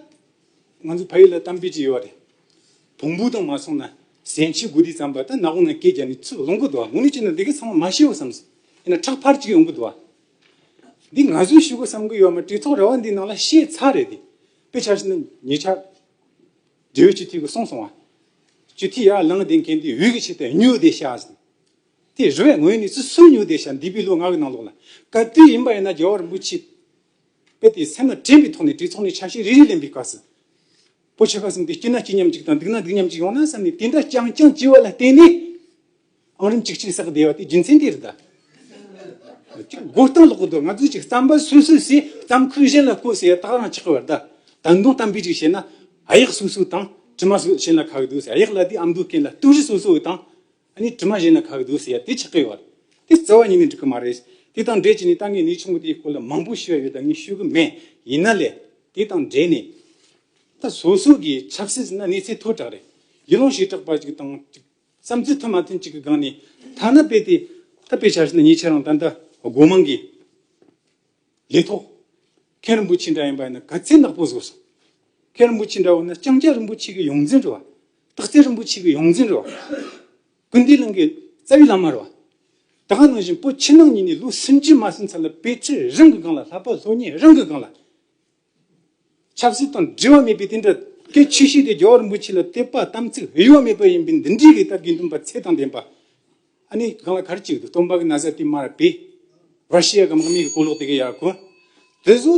ང་ཚོ་ཕ་ཡུལ་ལ་གཏམ་དཔེ་ཅིག་ཡོད་པ་རེད། བོང་བུ་དང་མ་མཚུངས་ན་གཟན་ཆས་དགུ་དེ་ཙམ་པ་ད་ནག་པོ་ནང་སྐད་རྒྱབ་ནས་ཚུར་ལོངས་གི་འདུག་ངོ་ནས་བྱས་ན་འདི་གའི་ཚང་མ་མ་ཤེས་བ་བསམ་སྲིད་ཡིན་ན་ཁྲག་ཕར་ཅིག་ཡོང་གི་འདུག་བ། འདི་ང་ཚོས་ཞུ་གི་བསམ་གི་ཡོད་མ་དཀྲིས་ཐོག་ར་བ་འདིའི་ནང་ལ་ཤེས་ཚར་རེད་དེ། དཔེ་ཆ་ཞིག་ན་ཉེ་ཆར། འབྲེལ་ཡོད་སྤྱི་འཐུས་ཀྱི་གསུང་སོང་བ། སྤྱི་འཐུས་ཡར་ལངས་བསྡད་མཁན་དེ་འུད་ཀྱི་ཆེ་སྟེ་སྨྱོ་བསྡད་ཤག་ཟེར། དེ་རེ་བས་ངོས་ནས་ཚུར་སུ་སྨྱོ་བསྡད་ཤག་འདི་པའི་ལུགས་ངག་གི་ནང་ལོགས་ལ་ག་དུས་ཡིན་པ་ཡིན་ན་རྒྱལ་བ་རིན་པོ་ཆེས་དཔེ་དེ་སེམས་ལ་དྲན་པའི་ཐོག་ནས་དྲིའི་ཚོགས་ནི་ཆ་ཤས་རེ་རེ་ལེན་པའི་སྐབས་སུ། པོ་ཆེ་ཁ་སེམས་དེ་སྐྱིད་ན་སྐྱིད་མཉམ་གཅིག་དང་སྡུག་ན་སྡུག་མཉམ་གཅིག་ཡོང་ན་བསམ་ནས་དེ་འདྲ་རྐྱང་རྐྱང་བགྱི་བ་ལ་བརྟེན་ནས། ཨང་རིམ་གཅིག་ཅིག་བསགས་བསྡད་པ་དེ་རྒྱུ་མཚན་དེར་གདའ། དགོད་སྟངས་ལོག་གི་འདུག་ང་ཚོས་ཅིག་བརྩམས་པ་སུས་སུས་སུས་བརྩམས་ཁུལ་གཞན་ལ་བཀོད་ཟེར་དག་རང་ཆགས་ཀྱི་བར་གདའ། ད་མདུང་གཏམ་དཔེ་ཅིག་བཤད་ན། ཨ་ཡག་སུས་སུས་དང་དྲི་མ་སུས་གཞན་ལ་ཁག་གི་འདུག་ཟེར་ཨ་ཡག་ལ་དེ་ཨམ་འདུག་མཁན་ལ་ལྟུང་བཞི་སུས་སུས་འོས་དང། ཨ་ནི་དྲི་མ་གཞན་ན་ག་གི་འདུག་ཟེར་ཡ་དེ་ཆགས་ཀི་ཡོད་རེད་དེ་རྩ་བ་ཉིད་ནས་འགྲིག་གི་མ་རེད་དེ་དང་འབྲེལ་བྱས་ནས་ད་ངས་ནི་ཆུང་ངུ་དེའི་སྐོར་ལ་མང་པོ་ཤེས་ར་ཡོད་ད་ངས་ཤོད་གི་མེད་ཡིན་ན་ལས་དེ་དང་འབྲེལ་ནས་ད་བཟོ་ཟོ་གི་ཆགས་སྲིད་ཟེར་ན་གནས་ཚད་མཐོ་དྲག་རེད་ཡུལ་ལུང་ཞེ་དྲག་པ་ཅིག་དང་ཅིག་བསམ་ཚུལ་མཐུན་མ་མཐུན་ཅིག་གི་སྒང་ནས་ཐ་ན་དཔེ་དེ་ད་དཔེ་བྱ་ཟེར་ན་ངས་ཁྱེད་རང་ད་ལྟ་སྒོ་མང་གི། ལས་ཐོག། མཁན་རིན་པོ་ཆེ་འདྲ་ཡིན་པ་ཡིན་ན་དགའ་ཚལ་ནག་པོ་བཟོ་སོང། མཁན་རིན་པོ་ཆེ་འདྲ་བ་ན་ལྕང་སྐྱ་རིན་པོ་ཆེ་གི་ཡོངས་འཛིན་རེད་བ། སྟག་རྩེ་རིན་པོ་ཆེ་གི་ཡོངས་འཛིན་རེད་བ། ཀུན་འདུས་གླིང་གི་རྩ་བའི་བླ་མ་རེད་བ། ད་གང་ནང་བཞིན་པོ་ཕྱི་ནང་གཉིས་ནས་ལོ་སུམ་ཅུ་མ་ཟིན་ཚར་ལ་དཔེ་ཁྲིད་རང་གི་སྒང་ལ་ལྷག་པ་ལྷོ་གཉེར་རང་གི་སྒང་ལ། ཆབ་སྲིད་དང་འབྲེལ་བ་མེད་པའི་དེ་འདྲ་སྐད་ཆོས་ཤིག་དེ་རྒྱ་གར་འབུ་ཕྱི་ལ་བསྟད་པ་དམ་ཚིག་དབྱེ་བ་མེད་པ་ཡིན་པས་འདི་འདྲའི་རིགས་ལྟ་དགེ་འདུན་པ་ཚད་དང་ལྡན་པ་ཨ་ནི་གང་ལ་གར་གྱི་ཡོད་དོ་སྟོང་པ་གི་ན་བཟའ་དེ་མར་པས་ར་ཤི་ཡ་གམ་ཨ་མི་གི་གོ་ལོག་དེ་གི་ཡག་གོ། དེ་སུ་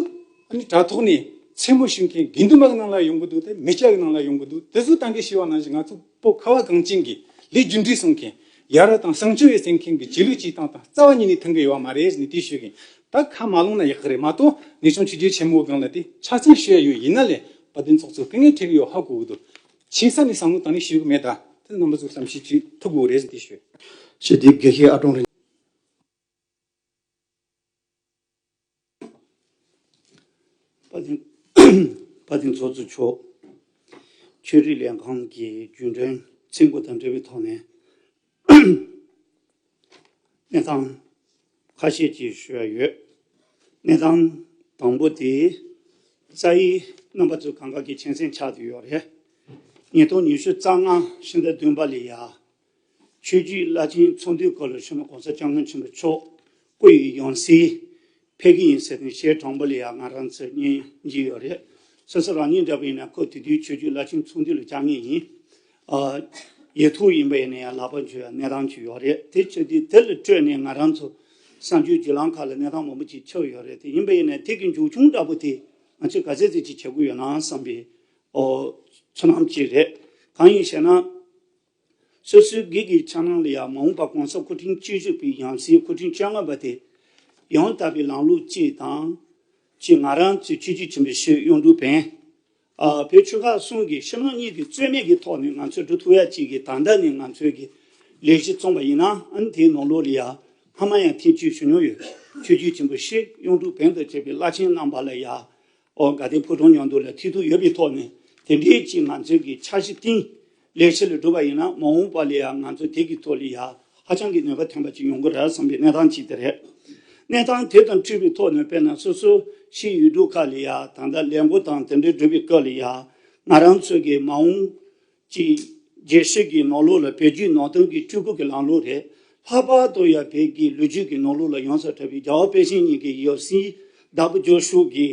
ཨ་ནི་དྲ་ཐོག་ནས་མཚན་མོ་ཞུ་མཁན་དགེ་འདུན་པ་གི་ནང་ལ་ཡོང་གི་འདུག་དེ་མི་སྐྱ་གི་ནང་ལ་ཡོང་གི་འདུག་དེ་སུ་ཏང་གི་ཤི་བ་ནང་བཞིན་ང་ཚོ་པོ་ཁ་བ་གངས་ཅན་གི་ལས་རྒྱུ་འབྲས་གསུང་མཁན། ཡ་རབས་དང་ཞིང་ཆེན་བའི་སེམས་ཁེངས་ཀྱི་རྗེས་ལུས་སྤྱི་སྟངས་དང་རྩ་བ་ཉིད་ནས་མཐུན་གི་ཡོད་བ་མ་རེད་ནི་དེ་ཤོད་གིན་ད་ཁ་མ་བླངས་ན་ཡག་གི་རེད་མ་གཏོགས་ངེད་ཆུང་ཆུ་རྒྱལ་ཆེན་མོའི་སྒང་ལ་དེ་ཆ་ཚང་ཤོད་ཡ་ཡོད་ཡིན་ན་ལས་བ་དེ་ཚོགས་ཚོ་སྐུ་ངལ་ཐེབས་གི་ཡོད་ཧ་གོ་གི་འདུག་ཆིང་ས་ནས་བསམ་བློ་དང་ལེན་ཞུས་གི་མེད་ད་དེ་རྣམ་པ་ཚོས་བསམ་ཤེས་ཅིག་ཐུབ་དགོས་རེད་དེ་ཤོད། ཞེས་དེའི་དགེ་བཤེས་
ཨ་ཀྲོང་རིན།
པ་ཏིང་ཚོགས་གཙོ་མཆོག་ཆོས་རིག་ལས་ཁང་གི་རྒྱུན་གྲོན་ཚིག་མགོ་དང་འབྲེལ་བའི་ཐོག་ནས་གནས་སྟངས་ཁ་ཤས་ཀྱི་ཞུ་ཡ་ཡོད། གནས་སྟངས་དང་པོ་དེ་རྩ་ཡིག་རྣམ་པ་ཚོས་གང་གཱ་གི་ཆེན་སེང་ཆགས་དུས་ཡོད་རེད། ཉིས་སྟོང་ཉི་ཤུ་རྩ་ལྔ་ཕྱི་ཟླ་བདུན་པ་ལི་ཡ་ཆོས་རྒྱུད་བླ་ཆེན་ཚོགས་འདུའི་སྐོར་ལ་ཆོས་མ་གོང་ས་སྐྱབས་མགོན་ཆེན་པོ་མཆོག་སྐུ་ཡི་ཡང་སྲིད་ཕེབས་ཀྱི་ཡིན་ཟེར་ནས་ཞལ་དྲང་པོ་ལ་ཡང་ང་རང་ཚོས་ཉན་གྱི་ཡོད་རེད། སོ་སོ་རང་ཉིད་འདྲ་བ་ཡིན་ན་ཁོ་དེ་དུས་ཆོས་རྒྱུད་བླ་ཆེན་ཚོགས་འདུ་ལ་བཅར་ངེས་ཡིན། ཡིད་ཐུགས་ཡིན་པ་ཡིན་ན་ཡང་ལག་པ་འཇུ་བའི་གནས་སྟངས་ཅིག་ཡོད་རེད་དེ་ཆོས་དུས་དེ་ལ་སྤྲོས་ནས་ང་རང་ཚོ་གསང་སྤྱོད་བརྒྱུད་ལམ་ཁག་ལ་གནས་སྟངས་མང་པོ་ཅིག་ཆགས་ཡོད་རེད་དེ་ཡིན་པ་ཡིན་ན་དེ་གི་མཇུག་ཆུང་འདྲ་པོ་དེ་ང་ཚོས་ག་ཚད་ཚད་ཅིག་བྱེད་དགོས་ཡོད་ནའང་བསམ་པའི་ཚོར་སྣང་ཅིག་རེད། གང་ཡིན་ཞེ་ན། སོ་སོའི་སྒེར་གྱི་འཆར་སྣང་ལ་ཡང་མ་འོངས་པར་གོང་ས་སྐུ་ཕྲེང་བཅུ་དྲུག་པའི་ཡང་སྲིད་སྐུ་ཕྲེང་བཅོ་ལྔ་པ་དེ་ཡང་དག་པའི་ལམ་ལུགས་གཅིག་དང། ཅེས་ང་རང་ཚོའི་ཆོས་རྒྱུད་ཆེན་པོའི་ཤོད་གཡོག་འབྲུག་བན། བོད་ཆོལ་ཁ་གསུམ་གྱི་སྤྱི་དམངས་གཉིས་ཀྱི་རྩོད་མེད་ཀྱི་ཐོག་ནས་ང་ཚོས་འབྲུག་ཐུགས་ཡ་གཅིག་གིས་ད་ལྟ་ནས་ང་ཚོའི་གི་ལས་གཞི་བཙོང་པ་ཡིན་ནའང་དེའི་ནང་ལོགས་ལ་ཡང་སྔ་མ་ཡང་ཐེངས་བཅུ་བྱུང་མྱོང་ཡོད་ཆོས་རྒྱུད་ཆེན་པོ་ཤོད་གཡོག་འབྲུག་བན་དང་བཅས་པའི་བླ་ཆེན་རྣམ་པ་ལ་ཡང་ཨོ་དགའ་ལྡན་ཕུ་ཐུང་ཉོ་འདོད་ལ་མཐིལ་རྟོལ་ཡོད་པའི་ཐོག་ནས་དེ་འདྲའི་ཅིག་ང་ཚོས་ཀྱི་འཆར་གཞི་བཏིང། ལས་བྱེད་ལས་སྒྲུབ་པ་ཡིན་ན་མ་འོངས་པ་ལ་ཡང་ང་ཚོས་དེ་གི་ཐོག་ལ་ཡ་ཧ་ཅང་གི་ནུས་པ་ཐོན་པ་ཅིག་ཡོང་གི་རེད་བསམ་པའི་གནས་སྟངས་ཅིག་དེ་རེད། གནས་སྟངས་དེ་དང་འཁྲུལ་པའི་ཐོག་ནས་དཔེར་ན་སོ་སོ་ཞིག་ཡུལ་གྲུ་ཁག་ལ་ཡ་ད་ལྟ་ལས་འགོ་དང་དེ་འདྲ་སྒྲུབ་པའི་སྐབས་ལ་ཡ་ང་རང་ཚོས་ཀྱི་མ་འོངས་གཅིག། རྒྱལ་སྲིད་ཀྱི་ནོར་ལུག་ལ་བལ་རྒྱུད་ནང་བསྟན་གྱི་སྤྲུལ་སྐུ་གྱི་ལམ་ལུགས་རེད། ལྷག་པར་དུ་ཡང་བལ་གྱི་ལོ་རྒྱུས་ཀྱི་ནོར་ལུགས་ལ་ཡང་ས་གྲགས་པའི་རྒྱ་བོད་པེ་ཅིང་གཉིས་ཀྱི་ཡོ་སྲིད་བདག་པོ་ཇོ་ཧྲུའུ་ཀི་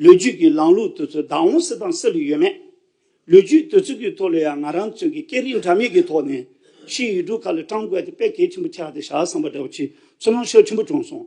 ལོ་རྒྱུས་ཀྱི་ལམ་ལུགས་དུས་ཚོད་བདག་དབང་སྲིད་དང་སྲིད་ལུགས་ཡོད་མེད། ལོ་རྒྱུས་དུས་ཚོད་ཀྱི་ཐོག་ལ་ཡང་ང་རང་ཚོས་ཀྱི་སྐད་རིགས་འདྲ་མིན་གྱི་ཐོག་ནས་ཕྱིའི་ཡུལ་གྲུ་ཁག་ལ་སྤྲང་བསྒོས་ཏེ་དཔེ་གལ་ཆེན་པོ་ཆགས་ཏེ་བཞག་བསམ་པ་འདྲ་བོ་ཆེ་ཚུར་སྣང་ཤུགས་ཆེན་པོ་བྱུང་སོང།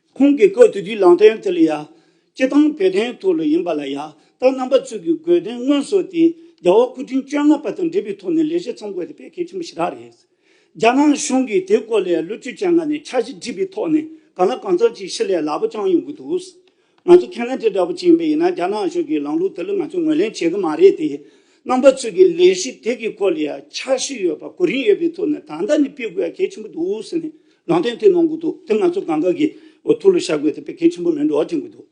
ཁོང་གིས་བཀོད་དེ་དུས་ལང་ཐེངས་དེ་ལ་ཡ། སྐྱེ་སྟངས་བོད་དོན་ཐོག་ལ་ཡིན་པ་ལ་ཡ། ད་རྣམ་པ་ཚུགས་ཀྱི་དགོས་དོན་དངོས་སོགས་དེ། རྒྱ་བོད་སྐུ་ཕྲེང་བཅོ་ལྔ་པ་དང་འབྲེལ་བའི་ཐོག་ནས་ལས་བྱེད་ཚང་དགོས་དེ་ཕལ་སྐད་ཆེན་པོ་ཞེ་དྲག་རེད། རྒྱ་ནག་གཞུང་གིས་དེ་སྐོར་ལས་ལོ་བཅོ་བརྒྱད་ལྔ་ནས་འཆར་གཞི་བསྒྲིགས་པའི་ཐོག་ནས་གང་ལ་གང་འཚམ་ཅིག་ཤི་ལས་སླ་པོ་རྐྱང་ཡོང་གི་འདུག། ང་ཚོ་ཁས་ལེན་དེ་འདྲ་བོ་ཅིག་ཡིན་པ་ཡིན་ན་རྒྱ་ནག་གཞུང་གིས་ལམ་ལུགས་དེ་ལ་ང་ཚོས་ངོས་ལེན་བྱེད་ཀྱི་མ་རེད་དེ། རྣམ་པ་ཚུགས་ཀྱི་ལས་གཞི་དེ་གི་སྐོར་ལ་ཡ། འཆར་གཞི་ཡོད་པ་གོ་རིམ་ཡོད་པའི་ཐོག་ནས་ད་ལྟ་ནས་སྤེལ་དགོས་ཡ་གལ་ཆེན་པོ་འདུག་ཟེར་ནས་ནང་བསྟན་དེ་གནང་གི་འདུག་དེ་ང་ཚོ་གང་དགའ་གི་ཐུགས་ལ་བཞག་དགོས་དེ་དཔེ་གལ་ཆེན་པོ་མིན་འགྲོ་བ་དྲན་གི་འདུག་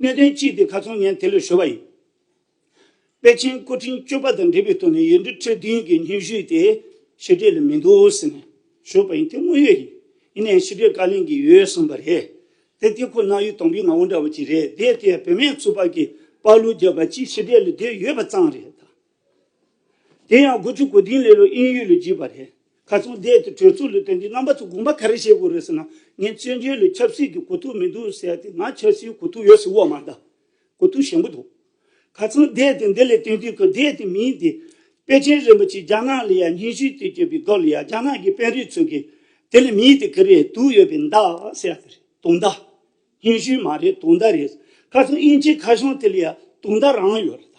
གནད་དོན་གཅིག་དེ་ག་ཚོང་ངས་དེ་ལས་ཤོར་བ་ཡིན། དཔེ་ཆེན་སྐུ་ཕྲེང་བཅུ་པ་དང་འབྲེལ་བའི་ཐོག་ནས་ཡུལ་འདི་ཁྲི་བདུན་གྱི་སྙན་ཞུ་དེ་ཕྱི་གྲས་ལ་མི་འདུག་ཟེར་ནས་ཞུས་པ་ཡིན་དེ་དངོས་ཡོད་ཡིན་ཡིན་ནའི་ཕྱི་གྲས་བཀའ་ལན་གྱི་ཡོད་གསུངས་པ་རེད་དེ་དེ་ཁོ་ན་ཡུལ་དང་པོའི་ངོ་བོ་འདྲ་བ་ཅིག་རེད་དེ་དེ་བོད་སྨན་ཚུགས་པ་གི་དཔའ་བླུ་རྒྱབ་པ་གཅིག་ཕྱི་གྲས་ལ་སྡོད་ཡོད་པ་ཙང་རེད་ད། དེ་ཡང་དགུ་བཅུ་གོ་བདུན་ལས་ལོ་དབྱིན་ཡུལ་ལོ་བརྒྱུད་པ་རེད། ག་ཚོང་སྡེ་དེ་གྲོས་ཚོགས་ལས་དོན་གྱི་རྣམ་པ་ཚོ་དགོངས་པ་ག་རེ་བཞེས་དགོས་རེད་ཟེར་ན་ངས་བཙན་བྱོལ་ལས་ཆབ་སྲིད་ཀྱི་གོ་ཐུག་མི་འདུག་ཟེར་ཏེ་ང་ཆབ་སྲིད་གོ་ཐུག་ཡོད་ཟེར་བ་མ་གཏགས་གོ་ཐུག་ཞན་པོ་འདུག་ག་ཚོང་སྡེ་དེ་འདི་ལས་དོན་དུས་ཀྱི་སྡེ་དེ་མིན་ཏེ། པེ་ཅིན་རིན་པོ་ཆེ་རྒྱ་ནག་ལ་ཡར་སྙན་ཞུས་དུས་བསྐྱོད་པའི་སྐབས་ལ་ཡང་རྒྱ་ནག་གི་དཔོན་རིགས་ཚོས་ཀྱིས་དེ་ལས་མིན་ཏེ་ག་རེ་དུག་ཡོད་པའི་མདའ་ཟེར་ཏེ་རེད་དུག་མདའ། སྙན་ཞུ་མ་རེད་དུག་མདའ་རེད་ཟེར་ག་ཚོང་དབྱིན་ཇིའི་མཁར་གཞུང་དེ་ལ་ཡང་དུག་མདའ་རང་ཡོད་རེད་ད།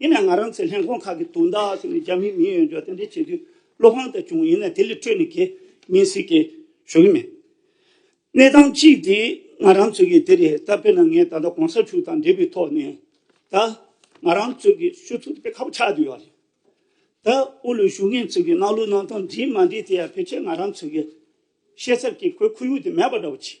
དེ་ནས་ང་རང་ཚོའི་ལྷན་ཁང་ཁག་གི་དོན་དག་སོགས་ནས་རྒྱ་མིའི་མིང་ཡོད་འཇོག་རྟེན་འབྲེལ་བྱེད་རྒྱུའི་བློ་ཕམ་དག་བྱུང་ཡིན་ན་དེ་ལས་འཕྲོས་ནས་གད་སྙིགས་སྲིད་སྐྱེལ་ཞུ་གི་མེད། གནས་སྟངས་གཅིག་དེ་ང་རང་ཚོས་ཀྱི་དེ་རེད་ད་དཔེར་ན་ངས་ད་ལྟ་གོང་ས་མཆོག་དང་འབྲེལ་བའི་ཐོག་ནས་ད་ང་རང་ཚོས་ཀྱི་ཞུ་ཚུལ་དེ་དཔེ་ཁ་པོ་ཆགས་བསྡད་ཡོད་རེད། ད་དབུ་ལུའི་ཞུ་ངེས་ཚོས་ཀྱི་གནང་ལུགས་གནང་སྟངས་འདྲིས་མ་འདྲིས་དེ་ཡང་ཕལ་ཆེར་ང་རང་ཚོས་ཀྱི་ཤེས་ཚད་ཀྱི་ཁོའི་ཁོར་ཡུག་དེ་མེད་པ་འདྲ་བོ་བྱེད།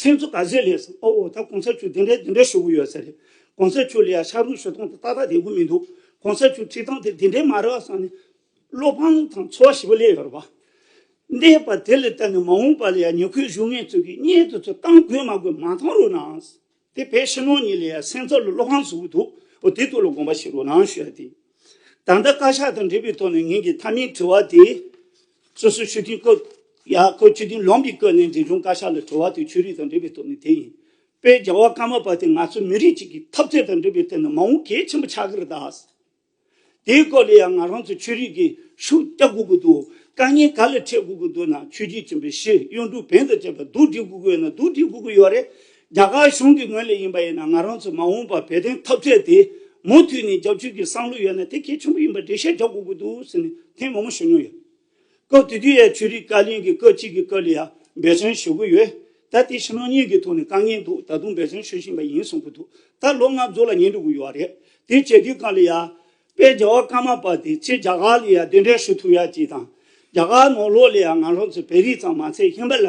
ཚིག་མཛོད་ཀ་ཟེར་ལས་སམ་ཨོ་ཨོ་ད་གོང་ས་མཆོད་དེ་འདྲའི་དེ་འདྲའི་ཞུ་གི་ཡོད་ས་རེད་གོང་ས་མཆོད་ལ་ཡང་ཤ་རུས་ཞུ་སྟངས་དེ་ཏག་ཏག་དེ་གོ་མི་འདུག་གོང་ས་མཆོད་ཁྲིད་སྟངས་དེ་དེ་འདྲའི་མ་རེད་བ་སང་ནས་བློ་ཕམ་དང་ཚོར་བ་ཞིག་པོ་སླེབས་ཡོད་རེད་བ། འདས་པ་དེ་ལ་བལྟས་ནས་མ་འོངས་པ་ལ་ཡང་ཉེ་ཁོའི་གཞུང་ངན་ཚོས་ཀྱིས་གཉེན་དུ་ཚུར་བཏང་དགོས་མ་དགོས་མ་མཐོང་རུང་ནའང་སྲིད་དེ་བས་ཕྱི་ནང་གཉིས་ལ་ཡང་སེམས་ཚོར་ལ་བློ་ཕམ་བཟོ་གི་འདུག་འོ་དེ་དོན་ལ་དགོངས་པ་ཞིག་རོགས་གནང་ཞུ་ཡ་དེ་ཡིན། ད་ལྟ་བཀའ་ཤག་དང་འབྲེལ་བའི་ཐོག་ནས་ངེད་ཀྱི་མཐའ་མའི་དྲི་བ་དེ། སོ་སོའི་ཆོས་མཐུན་བཀོད། ཡང་བཀོད་ཆོས་མཐུན་ལོངས་ཀྱིས་བཀོད་ནས་འབྲིང་ཆུང་བཀའ་ཤག་ལ་གྲོལ་བ་དེ་ཆོས་རིག་དང་འབྲེལ་བའི་སྟོབས་ནི་དེ་ཡིན། དཔལ་རྒྱལ་བ་ཀརྨ་པ་དེ་ང་ཚོ་མི་རིགས་གཅིག་གི་འཐབ་རྩོད་དང་འབྲེལ་བའི་ཐད་ནས་མ་འོངས་གལ་ཆེན་པོ་ཆགས་ཀྱི་རེད་དཱ། དེའི་སྐོར་ལ་ཡང་ང་རང་ཚོས་ཆོས་རིག་གི་ཤུགས་རྒྱག་དགོས་ཀྱི་འདུག་དཀའ་ངལ་ག་ལ་འཕྲད་དགོས་ཀྱི་འདུག་ན་ཆོས་རྒྱུད་ཆེན་པོའི་ཤེས་ཡོན་འབྲུ་བེན་དང་བཅས་པ་བསྡུ་སྒྲིག་དགོས་ཀྱི་ཡོད་ན་བསྡུ་སྒྲིག་དགོས་ཀྱི་ཡོད་རེད། རྒྱ་གར་གཞུང་གི་ངོས་ལས་ཡིན་པ་ཡིན་ན་ང་རང་ཚོས་མ་འོངས་པར་བོད་བསྟན་ཐབས་རྩལ་དེ་མུ་མཐུད་ནས་རྒྱབ་སྐྱོར་གྱི་བསམ་བློ་ཡོད་ན་དེ་གལ་ཆེན་པོ་ཡིན་པར་འགྲེལ་བཤད་རྒྱག་དགོས་ཀྱི་འདུག་ཟེར་ནས་ཐེངས་མང་པོ་ཞུ་མྱོང་ཡོད། སྐབས་དེ་དུས་ཡའི་ཆོས་རིག་བཀའ་བློན་གྱིས་སྐབས་གཅིག་གི་སྐབས་ལ་ཡང་འབད་བརྩོན་ཞུ་གི་ཡོད། ད་དེ་ཕྱི་ནང་གཉིས་ཀྱི་ཐོག་ནས་དཀའ་ངལ་འདུག་ད་དུང་འབད་བརྩོན་ཞུ་བཞིན་པ་ཡིན་གསུང་གི་འདུག་ད་ལོ་ལྔ་བཅུ་ལ་ཉེ་འགྲོ་གི་ཡོད་རེད། དེ་བྱེད་དུས་གང་ལ་ཡ། དཔལ་རྒྱལ་བ་ཀརྨ་པ་དེ་ཕྱིར་རྒྱ་གར་ལ་ཡང་གདན་འདྲེན་ཞུ་ཐུབ་ཡ་ཅིག་དང། རྒྱ་གར་ནང་ལོགས་ལ་ཡང་ང་རང་ཚོ་བོད་རིགས་ཙམ་མ་ཚད་ཧིན་བྷ་ལ།